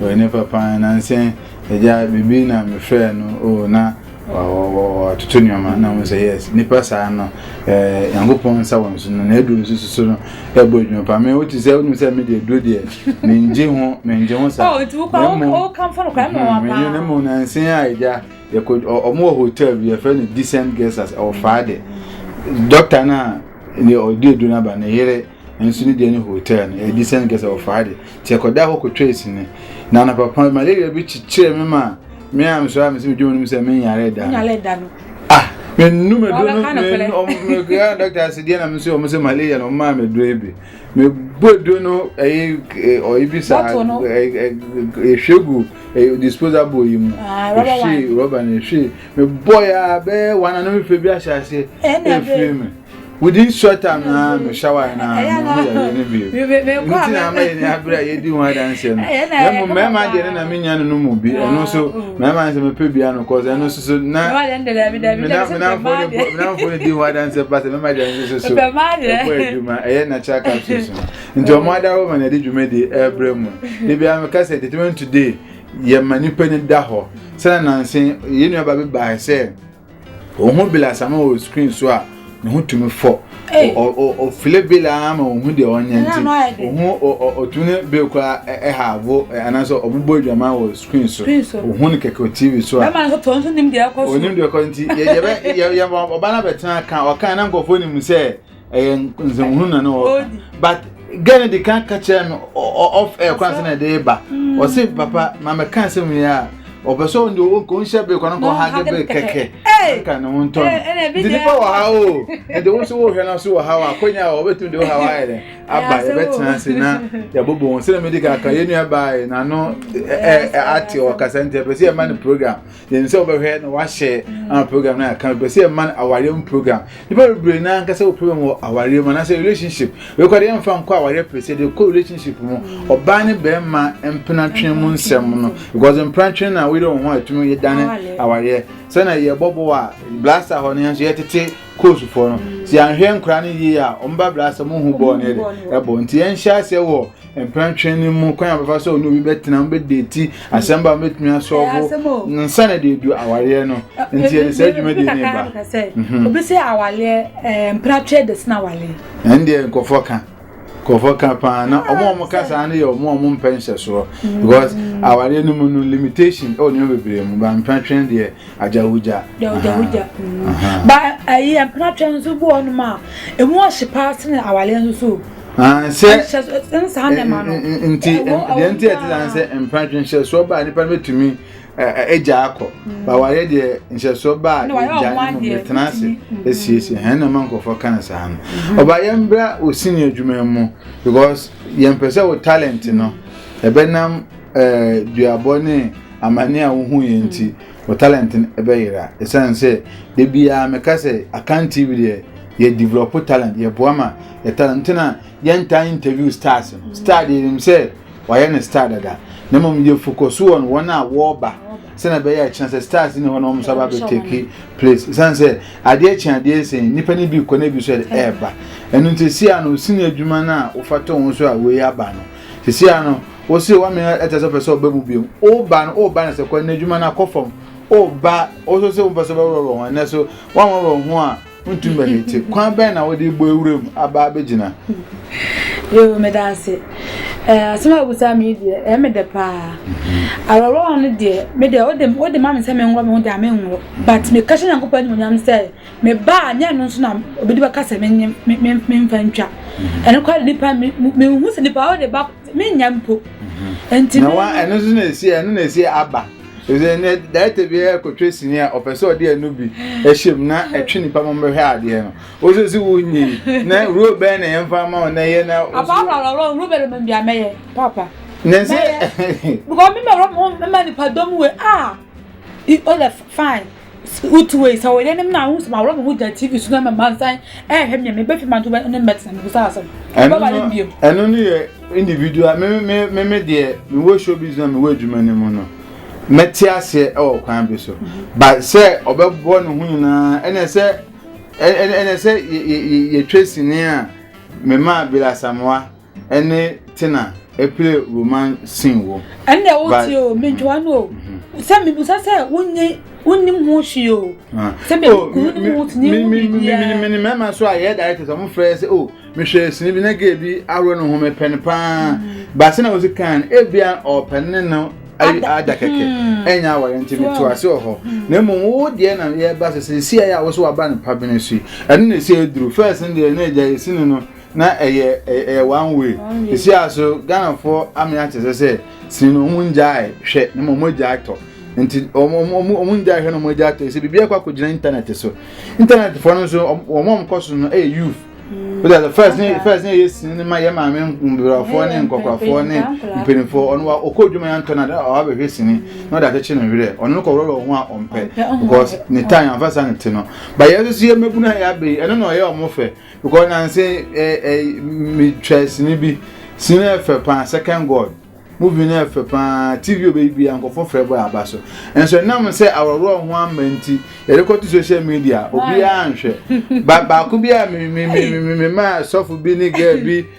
Speaker 2: ɔyɛ nipa paa nansi ɛgya bibi na mefrɛ no o na. Wɔtoto nneɛma na wɔn sɛ yes nipa saa no ɛɛ nyankopɔn nsa wɔn so no na aduro nso soso no ɛbɔ adwuma paa mɛ wotu sɛ wɔn sɛ mi deɛ aduro deɛ mɛ ngye ho mɛ ngye ho saa oh,
Speaker 3: na mu mɛ nye na mu na nsen
Speaker 2: a egya yɛ ko wɔn wɔ hotel bi yɛfrɛ no decent guest as ɛwɔ faa de dɔkta na deɛ ɔde aduro n'aba ne yere. nso ne deɛ ne hotel no ɛdi sɛ nkɛ sɛ ɔfaa de nti ɛkɔda hɔ kɔtwaa sini na anapapa malaria bi kyekyerɛ me ma me a mesɔre a mesɛ medwuma no mu sɛ menyare da no ah
Speaker 3: menu
Speaker 2: meduro no mekra dɔkta sɛ deɛ na me nso ɔmo sɛ malaria na ɔmaa meduro yi bi mebɔ aduro no ɛyɛ ɔyi bi saa ɛhwɛ gu disposable yi mu ɛhwɛ rɔba no ɛhwɛ mebɔ ya bɛɛ wana no mefɛ bi ahyɛ aseɛ ɛfiri me within short time na me shower na me ho yɛ yɛ ne bi nti na ama yɛ ni abere a yɛdi ho adanseɛ no yɛ mu mmarima deɛ ne na me nya no no mu bi ɛno nso mmarima nso mepɛ bia no kɔ ɛno nso so na menamfoɔ no di ho adanseɛ pa sɛ mɛma deɛ nso so so ɛbɔ adwuma ɛyɛ natural capsules no nti ɔmo ada wo ma na ɛde dwuma di ɛbrɛ mu de bia meka sɛ determined today yɛma nipa no da hɔ sɛ nananse yɛ nuaba bi baa sɛ wɔn ho bela asama wɔ screen so a ne ho tumi fɔ ɔfile bela ara ma wɔn ho deɛ wɔnyɛ nti wɔn ho ɔtumi ne bela kora ɛha abo anaasɛ wɔn bɔ adwama wɔ screen so wɔn ho ne kɛkɛ tv so a
Speaker 3: onim deɛ ɛkɔ nti yɛbɛ
Speaker 2: yɛbɛ ɔba no abɛtena ka ɔka na nkurɔfoɔ nim sɛ. ɛyɛ nsɛmhunu na ne wɔka but gɛ no de ka ka kyerɛ me ɔf ɛyɛ kwan sɛ na ɛde ba hmm. ɔse papa ma mɛka nsɛm wie a ɔpɛ sɛ ɔnde ɔnhyɛ bere kwan kɔ ha gɛ bere kɛkɛ nka ne ho ntɔ no nti nipa wɔ ha o ɛde wo so wohwɛ no so wɔ ha wɔ akonya wɔ ɔbɛtumi de wo ha wɔ ayɛ dɛ aba yɛbɛtena ase na yɛbobɔ wɔn sɛ na mede kaka yɛnua baeɛ na ano ate ɔkasa nti ɛpɛ sɛ yɛma no program yɛn sɛ wɔbɛhwɛ na wahyɛ ama program no aka pɛ sɛ ɛma no awareɛ mu program nipa bebree na ankasa wɔ program wɔ awareɛ mu anaasɛ relationship wekɔ de yɛmfa nkɔ awareɛ pere sɛ de kɔ relationship mu ɔbaa ne bɛrima mpenatwene mu nsɛm no because mpenatwene na woyere wɔn ho a ɛtumi yɛ dane awareɛ sɛna yɛbɔbɔ a blasta hɔ no yɛn nso yɛtete koosufoɔ no sɛ yɛanhwɛ nkora no yie a ɔmba blasta mu hu bɔɔ no ɛde ɛbɔ nti yɛnhyɛ aseɛ wɔ Mprɛnkyɛn no mu kwan a bɛfa sɛ ɔne obi bɛtena mu bɛdeti asɛm ba mɛtumi asɔfo nsa na de adu awareɛ no nti yɛde saa dwumadi ne ba mhm. obi sɛ
Speaker 3: awareɛ mpratwɛ de sena awareɛ ɛndeɛ nkɔfɔ
Speaker 2: ka nkɔfɔ ka paa na ɔmo a ɔmo ka saa no yɛ ɔmo a ɔmo mpɛ nhyɛsoɔ mm. because awareɛ no mu no limitation ɛwɔ nneɛma bebree mu ba mpratwɛ deɛ agyawogya ba ɛyi
Speaker 3: mpratwɛ nso bi wɔ ɔnom a ɛmu ɔhye paa sene awareɛ nso so Ah, sɛ ɛne saa
Speaker 2: na ɛma no nti deɛ nti ɛte saa sɛ mpratwe nhyɛsoɔ baa nipa no bɛtumi agya akɔ mm. ba wayɛ deɛ nhyɛsoɔ baa agya no mu bɛtena ase asiesie hɛn na ma nkurɔfoɔ ka no saa no mm-hmm. ɔba yɛmbra ɔsini adwuma mu because yɛmpɛ sɛ wo talent no ɛbɛnam duabɔ ne amane a wohu yɛ nti mm. wɔ talent no ɛbɛyera ɛsiane sɛ da biara meka sɛ akan tv deɛ yɛ develop talent yɛboa ma yɛ talent nti na yɛntaa interview stars no star deɛ nim sɛ wayɛ ne star dada na mmom yɛ focus wɔ no wɔn a wɔreba sɛnea ɛbɛyɛ a ɛkyerɛ sɛ stars ne hɔ na wɔn nso aba abɛtɛki place ɛsiane sɛ adeɛ kye adeɛ sɛn nnipa no bi kɔ na ebi nso ɛreba ɛno nti si a no osi no adwuma no a wofa to ho so a wei aba no Sisi a no, wo se wa mene ɛtɛ sɛ pɛ sɛ ɔbɛ mu bio. O ba no, o ba no sɛ kɔ ɛnɛ adwuma no akɔ fam. O ba, o so se wo mpɛ sɛ ɔbɛworɔ wɔ ho ɛnɛ so wa wɔworɔ ho a ntum bɛ ne te. Kwan bɛn na wode bɔ ewura mu aba abɛgyina?
Speaker 3: Yo, meda ase. Eh, asɛm a wobusa me deɛ, ɛyɛ eh, me dɛ paa. Awerɛwerɛw no deɛ, me deɛ, wode, wode ma me sɛ menworɔ me ho deɛ, a menworɔ. But meka hyɛ Nyankopɔn animuonyam sɛ, Me ba a, nyɛ ɛno nso na obi bɛka sɛ menye memfa ntwa. Mhm. Ɛno kora nipa menhu sɛ nipa wode ba menya mpo. Mhm. Nti na wa ɛno nso na
Speaker 2: esi ɛno na esi aba. Ɛsɛ ne daɛtɛ bi yɛ kotwe sini a ɔpɛ sɛ ɔde ɛno bi ɛhyɛ mu na ɛtwe nipa mo bɛhwɛ adeɛ no. Ose si wo nyi na rule bɛn na yɛn fa ma ɔna yɛ na. Apa apa apa apa rule bɛn na
Speaker 3: mɛ bi a mɛyɛ papa. Na ɛsɛ.
Speaker 2: Because
Speaker 3: mi ma rɔ mo mɛ ma nipa dɔm we ah. It all fine. Wotu wei sɛ wɔyɛ ne na wo sɛ mawɔrɔ me ho gya TV so na ma mansan ɛhwɛ me me bɛfi manto bɛ ne mɛtena me busa asɛm ɛbɛba ne mbiem ɛno no yɛ
Speaker 2: individual me me me me deɛ me wɔ show business me wɔ adwuma no mu no mɛte aseɛ ɛwɔ kwan bi so mm-hmm. but sɛ ɔbɛbɔ ne ho nyinaa ɛnɛ sɛ ɛnɛ sɛ yɛtwa sini a mema abira samoa ɛne tena ɛpere roman sin wo. ɛnna ɛwɔ tie o
Speaker 3: mentwa no o sɛ mebusa sɛ wonye wonim ho hwee o sɛ menim ho tene ho biribiara mene mmarima
Speaker 2: so a yɛyɛ directors ɔmo frɛ sɛ o mehwɛ sini bi na gay bi ahoro no ho mepɛ no paa ba sɛ na wosi kan ebia ɔpɛ ne no ada kɛkɛ ɛnyɛ aware nti meto ase wɔ hɔ na mmom wo deɛ na yɛba sɛ sɛ si a yɛ a wo so waba no pa bene so yi ɛno na ɛsi aduru fɛs no deɛ na agya yɛsi no no Na ɛyɛ ɛyɛ one way. Esi aso Ghanafoɔ ame akyesɛ sɛ sini no wɔn ngyae hwɛ na wɔn agyae tɔ. Nti wɔn wɔn wɔn ngyae hwɛ na wɔn agyae tɔ. Esi biribi akɔ akɔgyina internet so. Internet foɔ no nso wɔn wɔn kɔ so no ɛyɛ youth. Wọ́n sɛ first ne first ne yɛ sini no ma yɛ maame mbrɔfoɔ ne nkɔkɔrafoɔ ne mpanimfoɔ ɔno wa ɔkɔ odwuma yɛn ntɔ na ɔde ɔwa bɛhwɛ sini na ɔde akyekye ne werɛ ɔno no kɔ wura wɔn ho a ɔmpɛ because ne tan yɛn afasa ne ti no ba yɛn nso yɛ mmabunu a yɛ abɛyi ɛno na ɔyɛ wɔn fɛ. Because na nse eh, eh, me twa sini bi sini no ɛfɛ paa second god movie no ɛfɛ paa tv obɛyi bia nkɔfɔ frɛ bɔ aba so nso ɛnam sɛ aworɔworɔ ho ama nti yɛde kɔto social media obiara nhwɛ ba baako bi a me me me me me ma sɔfo bi ne girl bi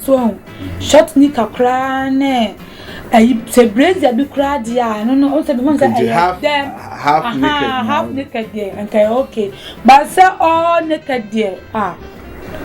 Speaker 3: So wahu? Short knicker koraa ne ayi sɛ brazier bi koraa deɛ a ɛno no ɔsɛ mehu sɛ ɛyɛ half half naked half naked deɛ nka ɛyɛ okay but sɛ all naked deɛ ah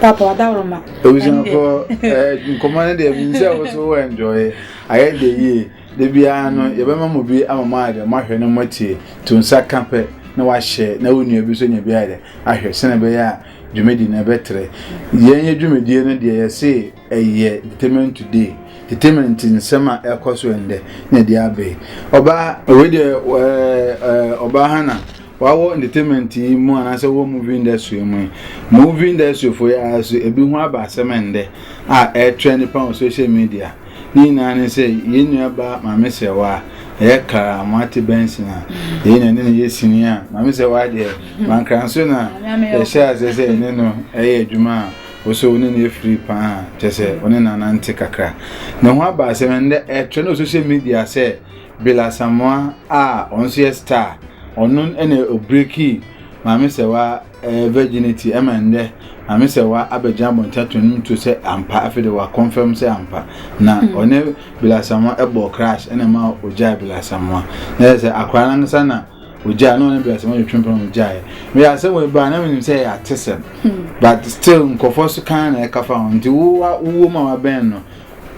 Speaker 3: papa wadaworo ma.
Speaker 2: ebusuafo ɛɛ nkɔmɔ no deɛ mi sɛ
Speaker 3: woso
Speaker 2: wɔ enjoy ayɛ de yie de biara no yɛbɛma mo bi ama mo ayɛ dɛ mo ahwɛ no mo atie to nsa ka pɛ na wahyɛ na wo nua bi so nya bi ayɛ dɛ ahwɛ sɛnɛ bɛyɛ a. Dwumadi no ɛbɛtrɛ. Yɛn yɛ dwumadie no deɛ yɛse ɛyɛ Entertainment Today, Entertainment nsɛm a ɛkɔ so ɛndɛ na ɛde aba yi. Ɔbaa. Wei deɛ ɛɛ Ɔbaa Hannah wawɔ Entertainment yi mu anaasɛ wɔ Movie Industry yi mu yi. Movie Industry foɔ yi ara so ebi ho aba asɛm ɛndɛ a ɛretrɛ nipa wɔ Social Media. Ne nyinaa ne sɛ, yɛn nuabaa Maame Sewaa, ɛyɛ kar a moate bɛnsen a, yei na ɛne no yɛ sini a, Maame Sewaa deɛ, Mankranso na yɛhyɛɛ aseɛ sɛ yɛne no yɛ adwuma a, wo so wo ne no afiri pa ara, kyerɛ sɛ, wo ne no anante kakra. Ne ho aba asɛm no, ɛnnɛ ɛtrɛnd wɔ social media sɛ Bill Asamoah a ɔno nso yɛ star, ɔno na ɔbreakii Maame Sewaa eh, virginity ɛma ndɛ ame sɛ wa abɛgyina abɔnten ato ne to sɛ ampa afei de wa confirm sɛ ampa na hmm. ɔne bilasamoa ɛbɔ crash ɛna ɛma ogya bilasamoa na yɛ sɛ akora nankasa na ogya na ɔne bilasamoa yɛ twempena ogya yɛ meyɛ asɛ wɔ ba na menim sɛ yɛ atesɛm hmm. but still nkɔfoɔ so kan na ɛka fa ho nti wowɔ mu a wabɛn no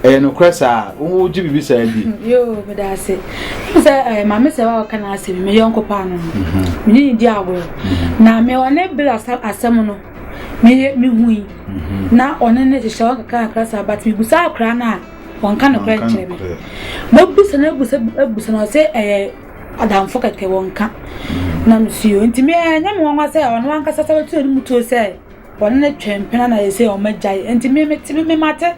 Speaker 2: ɛyɛ nokorɛ saa wogye biribi saa di yoo meda ase
Speaker 3: sɛ eh, maame sɛ wa ɔka n'asɛm me yɔnko paa no mhm. mene ne di agorɔ mhm. na me ɔne bere asɛm no meyɛ mehui mhm. na ɔne ne hyehyɛ wɔn kakra kakra saa but mebusa akora no a wɔnka nokorɛ nkyerɛ me mɔbusa no abusa abusa no ɔsɛ ɛyɛ adamfo kɛkɛ wɔnka na mesuo nti meɛnyɛ me nwanwa sɛ ɔno ankasa sɛ wɔtuo no mu tuo sɛ Bɔne no twɛn mpɛn anan na ɛsɛ sɛ wɔgyae. Enti me, mete, me, mate,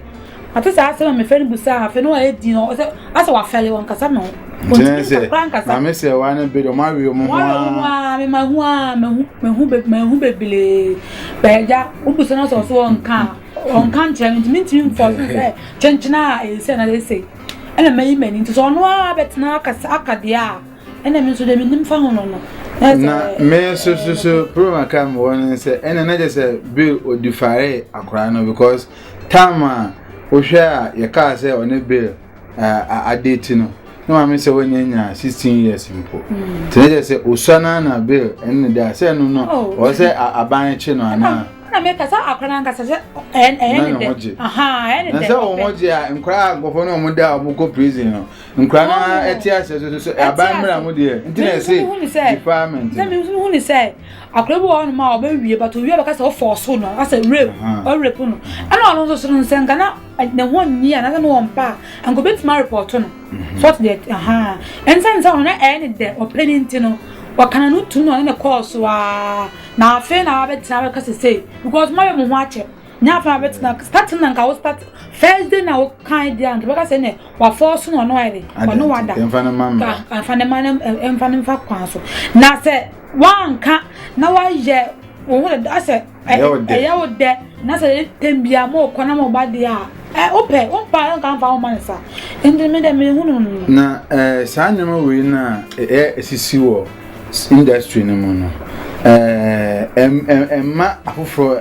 Speaker 3: mate saa asɛm a mefrɛ no busaa afei no a ɛdi no, ɔsɛ, asɛ wafɛle, wɔnkasa me ho. Wɔntumi nsa koraa nkasa.
Speaker 2: Na me sɛ, wɔn ano bere, wɔn awe wɔn ho ara. Wɔn awe wɔn ho ara, me mahu a, mahu,
Speaker 3: mahu, mahu bebree. Bɛɛgya, wobusa no sɛ ɔso ɔnka a, ɔnka nkyerɛ me, nti mentumi mfɔ so sɛ kyenkyena a ɛsɛ na ɛsɛ. Ɛna mayi m'ani, nti sɛ ɔno ara bɛtena akasa, aka deɛ a, Ɛna me nso deɛ menim fa ho no no. Na me
Speaker 2: nso so so problem aka me wɔ no sɛ ɛna na kyɛ sɛ Bill odifare akora no because time a wohwɛ a yɛkaa sɛ ɔne Bill uh, ade ti no na maame sɛ wɔnyɛ nya 16 years mpo hmm. nti na kyɛ sɛ osua no na Bill ɛne ne da sɛ ɛno no oh. ɔwɔ sɛ aban kye no anaa na me kasa
Speaker 3: akora
Speaker 2: na nkasa sɛ ɛyɛ ne dɛ ɛyɛ ne dɛ na sɛ wɔn ho gye a nkora agofo no wɔn da a wɔn kɔ prison no nkura no ara ɛte asɛ so so aban mmira ho deɛ nti na ɛsɛ department sɛ mi nso hunu sɛ
Speaker 3: akora bi wɔ hɔ nom a ɔbɛwie but owie bɛka sɛ ɔfɔ ɔso no asɛ rape ɔrape no ɛna ɔno nso so no nsɛ nka na ne ho nyi a nasɛ ne wɔn pa a nka obetumi arepɔto no sɔt deɛ ɛhaa ɛnsɛ nsɛ ɔno na ɛyɛ ne dɛ ɔpɛ ne nti no ɔkana no tu na ɔne ne kɔɔ so aa na afei na abɛtena abɛka sɛ sei because mo ayɛ mo ho akyɛ Nya fa bɛ tena starting na nka wo start first day na wo kan dia nka bɛka sɛ ne wa force no no ayɛ de ɔno wada mfa ne ma mma mfa
Speaker 2: ne
Speaker 3: ma mfa ne mfa kwan so na sɛ wanka na wayɛ wo ho da sɛ ɛyɛ wo dɛ na sɛ tem bia mo kɔ na mo ba de a ɛ wopɛ wo mpa nka mfa wo ma ne sa nti me dɛ me hu no na eh saa
Speaker 2: nneɛma wei na ɛ esisi wɔ industry no mu no eh ɛma afoforɔ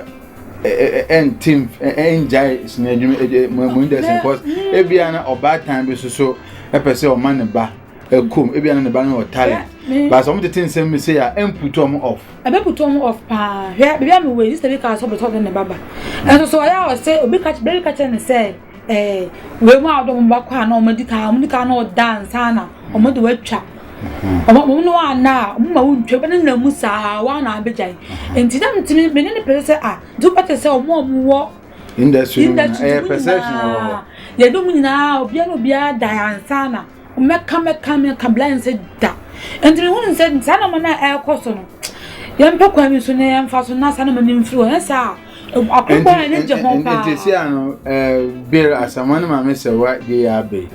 Speaker 2: ɛnte ɛngyae sini adwuma ɛdi mo mo indɛsɛn because ebi a na ɔbaatan bi soso ɛpɛ sɛ ɔma ne ba ɛkɔm ebi a na ne ba no wɔ talent baasa wɔn tete nsɛm mi sɛ a ɛmputu wɔn off. ɛbɛ putu wɔn off
Speaker 3: paa hwɛ bibi a mi wɔ yi sɛ bi ka asɔ bɛtɔ de ne ba ba ɛnso so ɔyɛ a ɔsɛ obi ka bɛbi ka kyerɛ ne sɛ. Ɛɛ, wei mu a wɔde wɔn ba kɔ a na wɔn adi kan, wɔn adi kan na wɔda ansa na wɔn de wɔatwa. Wɔn wɔn ne wɔn anna a, wɔn ma wɔntwa wɔn nenam mu saa wɔn na abɛgyae. Nti na metumi me ne ne pɛ sɛ a, nti wopɛ te sɛ wɔn a wɔn wɔ industry no nyinaa,
Speaker 2: ɛyɛ perception wɔ hɔ. Yɛde wɔn
Speaker 3: nyinaa obiara na obiara da ansa na. Mɛka mɛka mɛka bla yɛn sɛ da. Nti mi hunu sɛ saa nneɛma no a ɛrekɔ so no yɛn pɛ kwan bi so na yɛn fa so na saa nneɛma no mfiri hɔ. Yɛn saa akokɔ yɛn gye ho paa. Nti si ano ɛɛ
Speaker 2: bere asɛmɔ no maame sɛ wa de yɛ abere.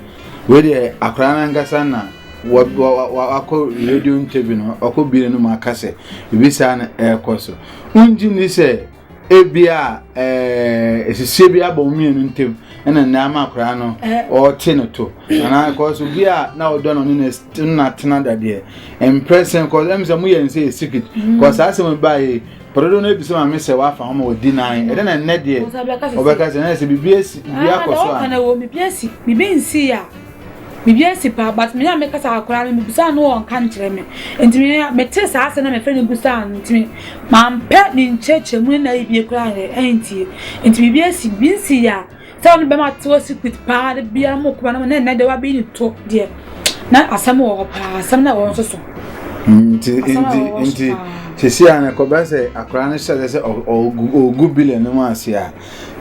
Speaker 2: Wei deɛ akwaraa nankasa na wakɔ radio ntɛbi no ɔkɔ bie no mu aka sɛ ebi saa na ɛrekɔ so. Wongye ni sɛ. ebia ɛɛ esisie bi abɔ wɔn mmienu ntam ɛna nea ama akwadaa no ɔrete no to anaa kɔs obi a na ɔdɔ no ne na ne na tena dadeɛ mprɛsɛn kɔs ɛmu sɛ mo yɛ nsɛ yɛ secret kɔs saa asɛm baa yi pɔdodo no ebi sɛ maame sɛ wafa ho ma wadi nan ɛdɛ na nnɛ deɛ ɔbɛka sɛ ɛnɛ sɛ biribi esi biribi akɔ so a.
Speaker 3: biribi nsi a. Biribi asi paa but me na mekasa akwadaa no mebisaa no ɔnka nkyerɛ me nti me mete saa asɛm na mefrɛ no bisaa no nti mampɛ ne nkyerɛkyerɛmu ne n'ayibie koraa yɛ ɛntie nti biribi asi bi nsi yɛ a sɛ ɔno bɛma te wɔ secret paa de bia mo kɔba no mo na ɛnɛ de wabeyi ne to deɛ na asɛm wɔ hɔ paa asɛm na wɔn nso so. nti nti nti
Speaker 2: sisi a na kɔbɛ sɛ akwadaa no hyɛ sɛ ɔgu bilion no mu ase a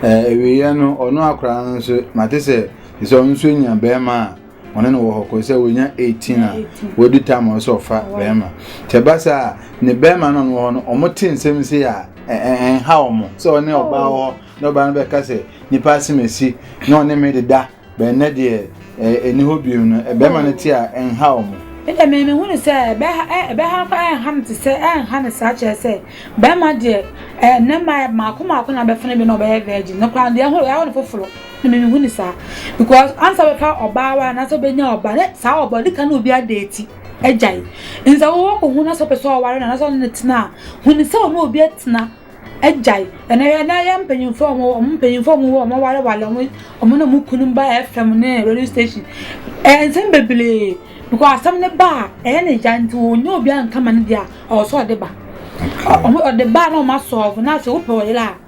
Speaker 2: ɛwieɛ no ɔno akwadaa no nso mate sɛ. Te sɛ ɔno nso nya bɛrima a ɔne no wɔ hɔ kɔ sɛ wɔnya 18 a wɔadi tam a ɔsɛ ɔfa bɛrima sɛ ɛba saa a ne bɛrima no wɔ hɔ no ɔmo te nsɛm si a ɛnha ɔmo sɛ ɔne ɔbaa wɔ hɔ na ɔbaa no bɛka sɛ nipa asem asi na ɔne me deda bɛnnɛ deɛ ɛni hɔ bio no bɛrima no te a ɛnha ɔmo. Ɛdɛ me me hunu sɛ
Speaker 3: ɛbɛha no kora ɛnha no te sɛ ɛnha no saa kyerɛ sɛ bɛrima deɛ ɛnɛ mmaeɛ mmaako mmaako na bɛfene bi na ɔbɛyɛ virgin no kora deɛ ɛho ɛho no foforɔ. Na me mehu ne saa because ansa bɛfa ɔbaa wa anaasɛ bɛnya ɔba ne saa ɔba ɔde ka na obi adeeti agyae nsa wɔwɔ kɔ hu na sɛ ɔpɛ sɛ ɔware na anaasɛ ɔne ne tena a hu ne sɛ ɔne obi atena agyae ɛna yɛ na yɛ mpanyinfoɔ ɔmo ɔmo mpanyinfoɔ ɔmo wɔ ɔmo ware wale ɔmo ɔmo na ɔmo kunu ba fm ne radio station ɛyɛ nsɛm bebree because asɛm ne ba a ɛyɛ ne ya nti wɔn nyɛ obi anka ma ne deɛ a ɔwɔ sɛ ɔde ba ɔmo ɔde ba na ɔmo asɔɔfo na sɛ wopɛ ɔyere a.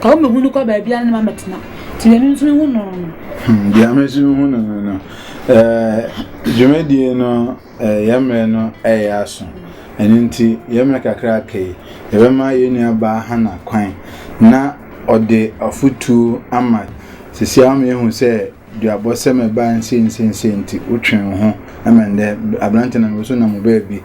Speaker 3: Ka wo mmɛhu no kɔ baabiara na mabɛtena. Nti deɛ me nso mehu no no. Hmm, deɛ me nso
Speaker 2: mehu no no no. Eh, dwumadie no eh, yɛn mmerɛ no ɛyɛ eh, aso. Ɛno nti yɛn mmerɛ kakra aka yi, yɛbɛma yɛn nua baa Hana kwan na ɔde afotuo ama. Sisi ama yɛhu sɛ Duabɔ sɛ mɛba nsiensiensie nti wotwɛn wo ho ma ndɛ aberante na mewɔ so nam wo baabi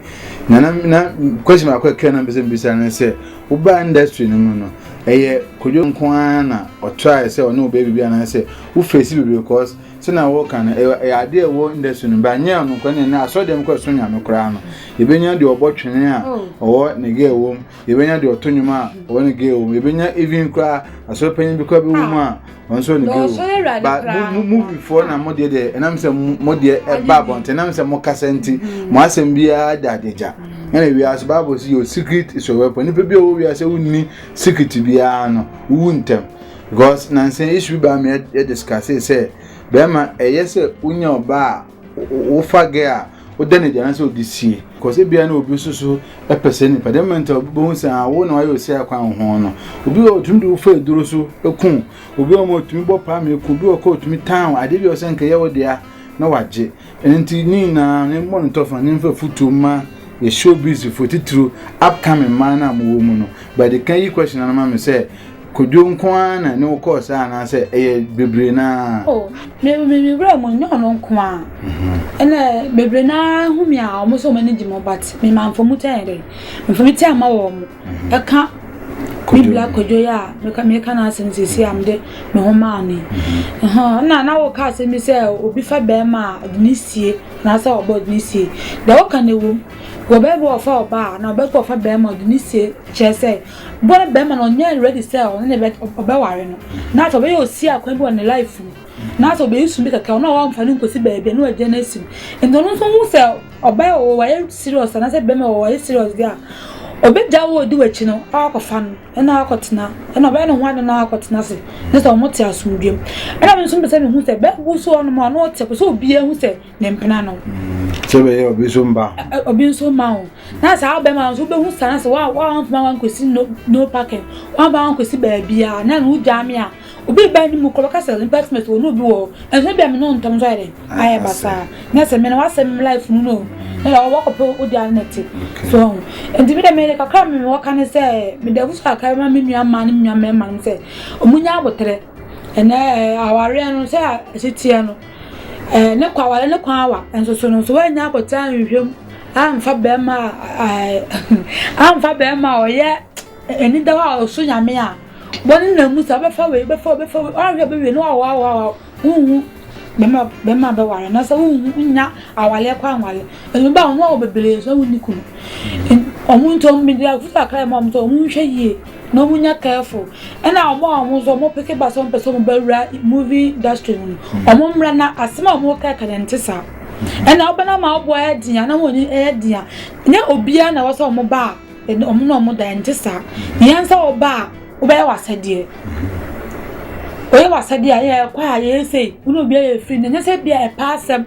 Speaker 2: na na na question baako ɛkra na mpɛsɛ mbisa ne sɛ wobaa industry no mu no ɛyɛ kodwo nko ara na ɔtrae sɛ ɔne wo baabi bi anaasɛ wo face bebree cause sɛ na wɔka no ɛyɛ adeɛ ɛwɔ industry no ba nyɛ ɔno nko ne ne asɔre dɛm kɔ ɛso nyame koraa no yɛbɛnya deɛ ɔbɔ twene a ɔwɔ ne gɛ ɛwɔ mu yɛbɛnya deɛ ɔto nnwom a ɔwɔ ne gay wɔ mu yɛbɛnya even koraa asɔre panyin bi koraa bi wɔ mu a wɔn nso wɔ ne gay wɔ mu ba mo mo muvifoɔ na mo deɛ deɛ ɛnam sɛ mo deɛ ɛba abɔnten ɛnam sɛ mo kasa nti mo asɛm biara da adagya ɛna wiase baabo si yɛ secret is your weapon nipa bi a ɔwɔ wiase wonni secret biara no wowu ntɛm because nansan issue bi a mi yɛ discuss sɛ bɛrima ɛyɛ sɛ wonya ɔbaa wofa gɛ a woda no adi anaasɛ wode sie kɔs ebia na obi nso so pɛ sɛ nipa dɛm mɛnta wobɛhu sɛ a wo na wayɛ osi akwan wo ho no obi wɔ otumi de wofa aduro so ku obi wɔ ma otumi bɔ paa ma eku obi wɔ kɔ otumi tan wo adeɛ bi ɔsɛ nka yɛ wo dea na wagye ɛno nti ne nyinaa ne mmɔ no tɔfa ne mfa futuo ma yɛ show busy fo titiriw upcoming mmaa no a mowɔ mu no bɛde ka yi question no ma me sɛ Kwadwo nko ara na ne wokɔɔ saa anaasɛ ɛyɛ bebree no ara? Oh, mewerɛ
Speaker 3: mu nyɛ ɔno nko ara. Mhm. Ɛnna bebree no ara hu me a wɔn sɛ wɔn ani gye me but mema mfamu kyɛ yɛn dɛ. Mfamu kyɛ ama wɔn. Mhm. Ɛka me bla kwadwo yi a meka meka n'asɛm sisi a mede me ho maa no yi. Mhm. Ɛnna na woka asɛm bi sɛ obi fa bɛrima a ɔde ne sie anaasɛ ɔba ɔde ne sie. Deɛ woka no ɛwom. Wɔ bɛrima ɔfa ɔba a na ɔbɛka ɔfa bɛrima ɔde ne sie kyerɛ sɛ Bɔ no bɛrima no ɔnyɛ ready sɛ ɔne ne bɛ ɔbɛware no na afei ɔbɛyɛ osi akwan bi wɔ ne life mu na afei ɔbɛyi sum bi kɛkɛ ɔno a wɔamfa no nkosi baabi na wagya no asi mu nti ɔno nso hu sɛ ɔbaa wɔ wayɛ serious anaasɛ bɛrima wɔ wayɛ serious deɛ a ɔbɛgya wo ɔdi w'akyi no akɔfa no ɛna akɔtena ɛna ɔbɛyɛ ne ho ade na akɔtena ase ne sɛ ɔmo te asomdwam ɛna me nso mpɛ sɛ mehu sɛ bɛɛbo so ɔnom a ɔno ɔte pɛ sɛ obiara hu sɛ ne mpena no. sɛ bɛyɛ obi
Speaker 2: nso mba ho. obi nso mma ho na saa bɛma nso wobɛhu saa sɛ woamfoma wankɔsi no no parking woamfa wankɔsi baabiaa na no wogyaa me a obi ba ne mu kɔ bɛka sɛ nipa sima sɛ wɔne obi wɔ ɛnso bia me ne ntɔm nso ayɛ dɛ ayɛ basaa na sɛ me na wasɛ me life mu no na wɔkɔpɛ wode ano na te so ho nti me dɛ meyɛ kakra me mewɔ ka ne sɛ mede abusu kakra ma me nua mmaa ne me nua mmarima no sɛ ɔmo nya aboterɛ ɛnɛ awareɛ no sɛ ɛsiteɛ no Ɛɛ, ne kɔ aware no kwan awa, nso so no nso wannya abotare anhwɛ mu amfa barima a ɛɛ amfa barima a ɔyɛ anida hɔ a ɔso nyame a wɔn nam mu sɛ ɔbɛfa wei bɛfa ɔbɛfa wei ɔnhwɛ bɛwie no awa awa awa wonhu bɛma bɛma bɛware na sɛ wonhu nya awaleɛ kɔ anwale ɛnu ba wɔn a wɔ bebree nso wɔn ni kunu wɔn nti wɔn bi deɛ afusa kra mu wɔn nso wɔn nhwɛ yie. na ɔmo nya careful ɛna ɔmo a ɔmo nso ɔmo peke ba sɛ ɔmo pɛ sɛ ɔmo bɛ wura movie industry no mu ɔmo mmra na asɛm a ɔmo kɛkɛ no nte saa
Speaker 3: ɛna ɔbɛ na ma ɔbɔ ɛyɛ den a na wɔn ɛyɛ den a nyɛ obiara na wɔsɛ ɔmo ba a ɛna ɔmo na ɔmo da ɛnte saa yɛn nsa ɔba a ɔbɛyɛ w'asɛdeɛ ɔyɛ w'asɛdeɛ a yɛ ɛkɔ a yɛyɛ sei wo na obiara yɛ free na nyɛ sɛ bi a ɛpɛ asɛm.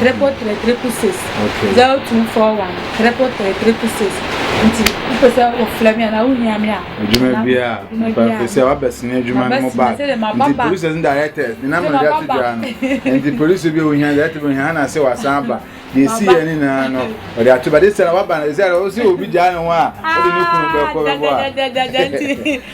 Speaker 3: Triple three triple six. Okay. Zero two four one triple three triple
Speaker 2: six. Nti wopɛ sɛ wofrɛ me anaa wohia me a. Adwuma bi a. Pɛpɛ sɛ wabɛsene adwuma no mu ba. Nti producers ne directors ne nam na de ato dwa no. Nti producer bi a ohia director bi ohia hana sɛ wasan aba. Na esi yɛ ne nyinaa no ɔde ato ba de sɛ waba na sɛ ɔsɛ obi gyaa ne ho a ɔde ne kunu bɛkɔ bɛbɔ a.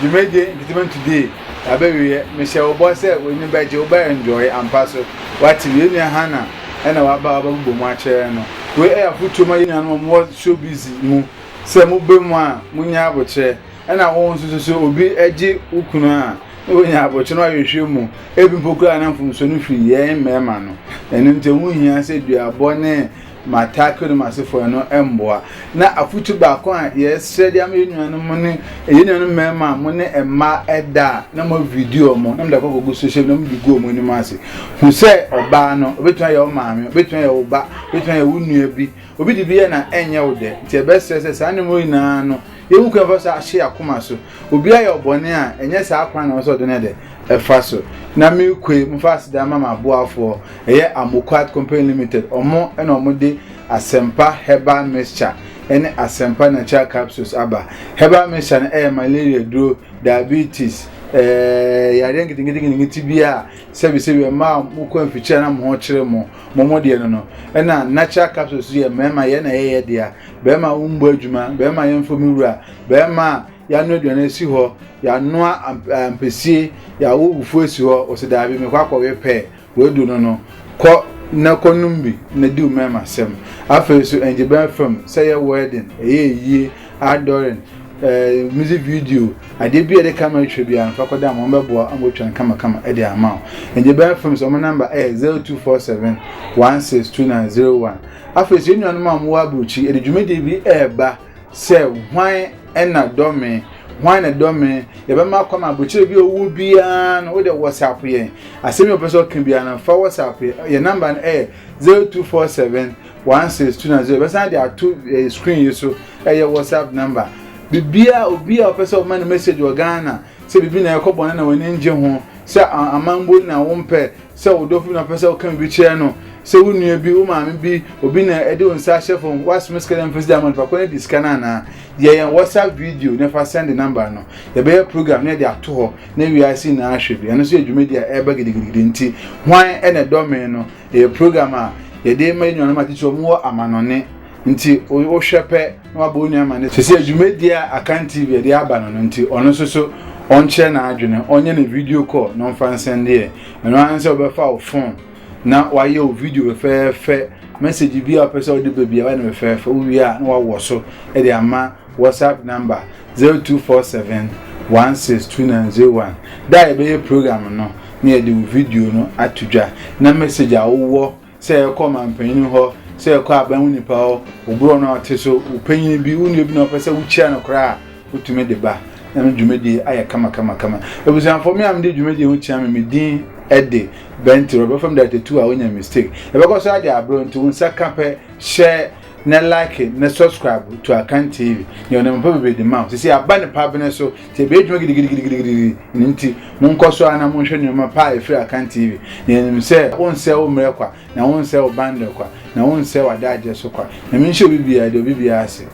Speaker 2: Dwumadie Entertainment Today abɛwieɛ, mehyɛ wo bɔ sɛ w'ani bɛgye, wobɛ enjoy ampa so. Wate, yɛn nua Hannah ɛna waba a wabɛbobɔ mu akyerɛ no. Wei ɛyɛ afotuo ma yɛn nuanom a wɔwɔ showbiz mu sɛ mobɛ mu a monya abokyerɛ. Ɛna wo nso so sɛ obi gye wo kunu a, na wanya abokyerɛ na wahwehwɛ mu. Ebi mpo koraa na mfomsoɔ no firi yɛn mmarima no. Ɛno nti ɛho hia sɛ duabɔ ne ma Tarkio no mu asefo ɛno mboa. Na afotu baako a yɛsrɛ de ama yɛn nuanom mo ne yɛn nuanom mmarima a mo ne mmaa ɛda a na mo video mo na mo de akɔ akɔgu social media na mo de gu wɔn anim ase. Hu sɛ ɔbaa no obetumi ayɛ wo maame, obetumi ayɛ wo ba, obetumi ayɛ wo nua bi. Obi de bi yɛ na ɛnyɛ wo dɛ. Nti yɛbɛsrɛ sɛ saa nneɛma nyinaa no yɛhu kwan fa so ahye akoma so. Obi ayɛ wo bɔne a, ɛnyɛ saa kwan na ɔwɔ sɛ ɔde no yɛdɛ? Ɛfa so. Na mekue, mofa aseda ma m'aboafoɔ, ɛyɛ Amoquart Company Limited, ɔmo na ɔmo de Asempa Herbal Mixture ɛne Asempa Natural Capsules aba. Herbal Mixture no ɛyɛ malaria duro, diabetes, ɛɛ yareɛ nketenkete biara a sɛbi sɛbi mmaa a mo kɔ mfikyire na mo ho kyere mo, mo mo deɛ no no. Ɛna Natural Capsules yɛ mmarima yɛn na yɛyɛ dea, barima wo mmɔ adwuma, barima yɛmfɔ me wura. Bɛrima a yɛanoa aduane asi hɔ, yɛanoa ampesie, yɛawo fufuo asi hɔ, ɔsi daabi mekɔ akɔwe pɛ, wadu no no, kɔ na kɔ nom bi na di wo mmarima asɛm. Afei nso ɛngye bɛn fam sɛ yɛ wedding, ɛyɛ ayie, outdooring, eh, music video, adeɛ bi a yɛde camera twa biara no fa kɔda ma wɔbɛboa ama wɔatwa no kamakama de ama wo. Ɛngye bɛn fam sɛ wɔn number ɛyɛ 0247 162901. Afei nso yɛn nuanom a wɔwɔ aburokyiri yɛde dwumadie bi ɛreba. sɛ hwan na dɔ me hwan na dɔ me yɛbɛma kɔ ma aburokyire bi owu biara no wode whatsapp yɛn asɛm yɛ ɔpɛ sɛ ɔka biara no fa whatsapp yɛn namba no ɛyɛ zero two four seven one six two nine zero bɛsan de ato ɛɛ eh, screen yi so ɛyɛ whatsapp namba bibia obi a ɔpɛ sɛ ɔma no message wɔ ghana Sɛ biribi na ɛkɔ bɔne na w'ani nnye ho, sɛ aman bu wo na wompɛ, sɛ wo dɔfo bi na ɔpɛ sɛ woka biribi kyerɛ no, sɛ wo nua bi, wo maame bi, obi na ɛde wo nsa ahyɛ fam, woasome sika dɛ mfa sika ma no, fa kɔ na di sika no anaa? Yɛ yɛn WhatsApp video na fa sɛnde number no. Yɛbɛyɛ program na yɛde ato hɔ na wiase nyinaa ahwɛ bi. Ɛno nso yɛ dwumadi a ɛreba gidigidigidi nti Hwan na Ɛdɔ Me? no. Ɛyɛ program a yɛde ma yɛn nuanom atitiriw a wɔwɔ amanɔnne nti wohwɛ pɛ na waba onua ama no sisi adwumadie a akan tv ɛde aba no no nti ɔno nso so ɔnkyerɛ n'adwene ɔnyɛ ne video call na ɔmfa nsɛndeɛ ɛno ara sɛ ɔbɛfa wo phone na wayɛ wo video fɛfɛɛfɛ message bi a ɔpɛ sɛ ɔde baabi a wayɛ no fɛfɛɛfɛ wowie a na wawɔ so ɛde ama whatsapp number 0247 162901 da a yɛbɛyɛ program no na yɛde wo video no ato dwa na message a wowɔ sɛ ɛkɔ mampanyin hɔ sɛ ɛkɔ aban wo nipa hɔ oburɔ no ɔte so wopanyin bi wo nua bi na ɔpɛ sɛ wokyia no koraa a wotumi de ba na me dwumadie ayɛ kamakamakama abusuafoɔ me a mede dwumadie ho kyia me me din ɛde bɛnti rɔbɛfam da tatu a wonya mistake ɛbɛkɔ so ade aberɛ nti wo nsa ka pɛ hyɛ na like na subscribe to akan tv yɛ ɔnam pa bebree de ma wo sisi aba ne pa bene so Sɛ ebedwuma gidigidigidi nti, monkɔ so ara na monhwɛ nneɛma pa a ɛfiri Akan TV. Yɛnim sɛ wonsɛe wo mmerɛ kwa, na wonsɛe wo bandɛ kwa, na wonsɛe w'adagyeɛ so kwa. Nyame nhyɛ obi biara deɛ obi biara ase.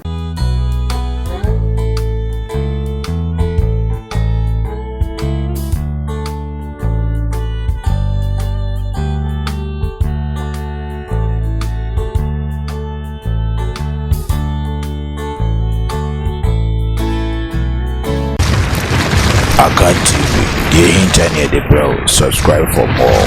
Speaker 1: Akan TV, deɛ ɛhinta ne yɛde brɛ wo, subscribe for more.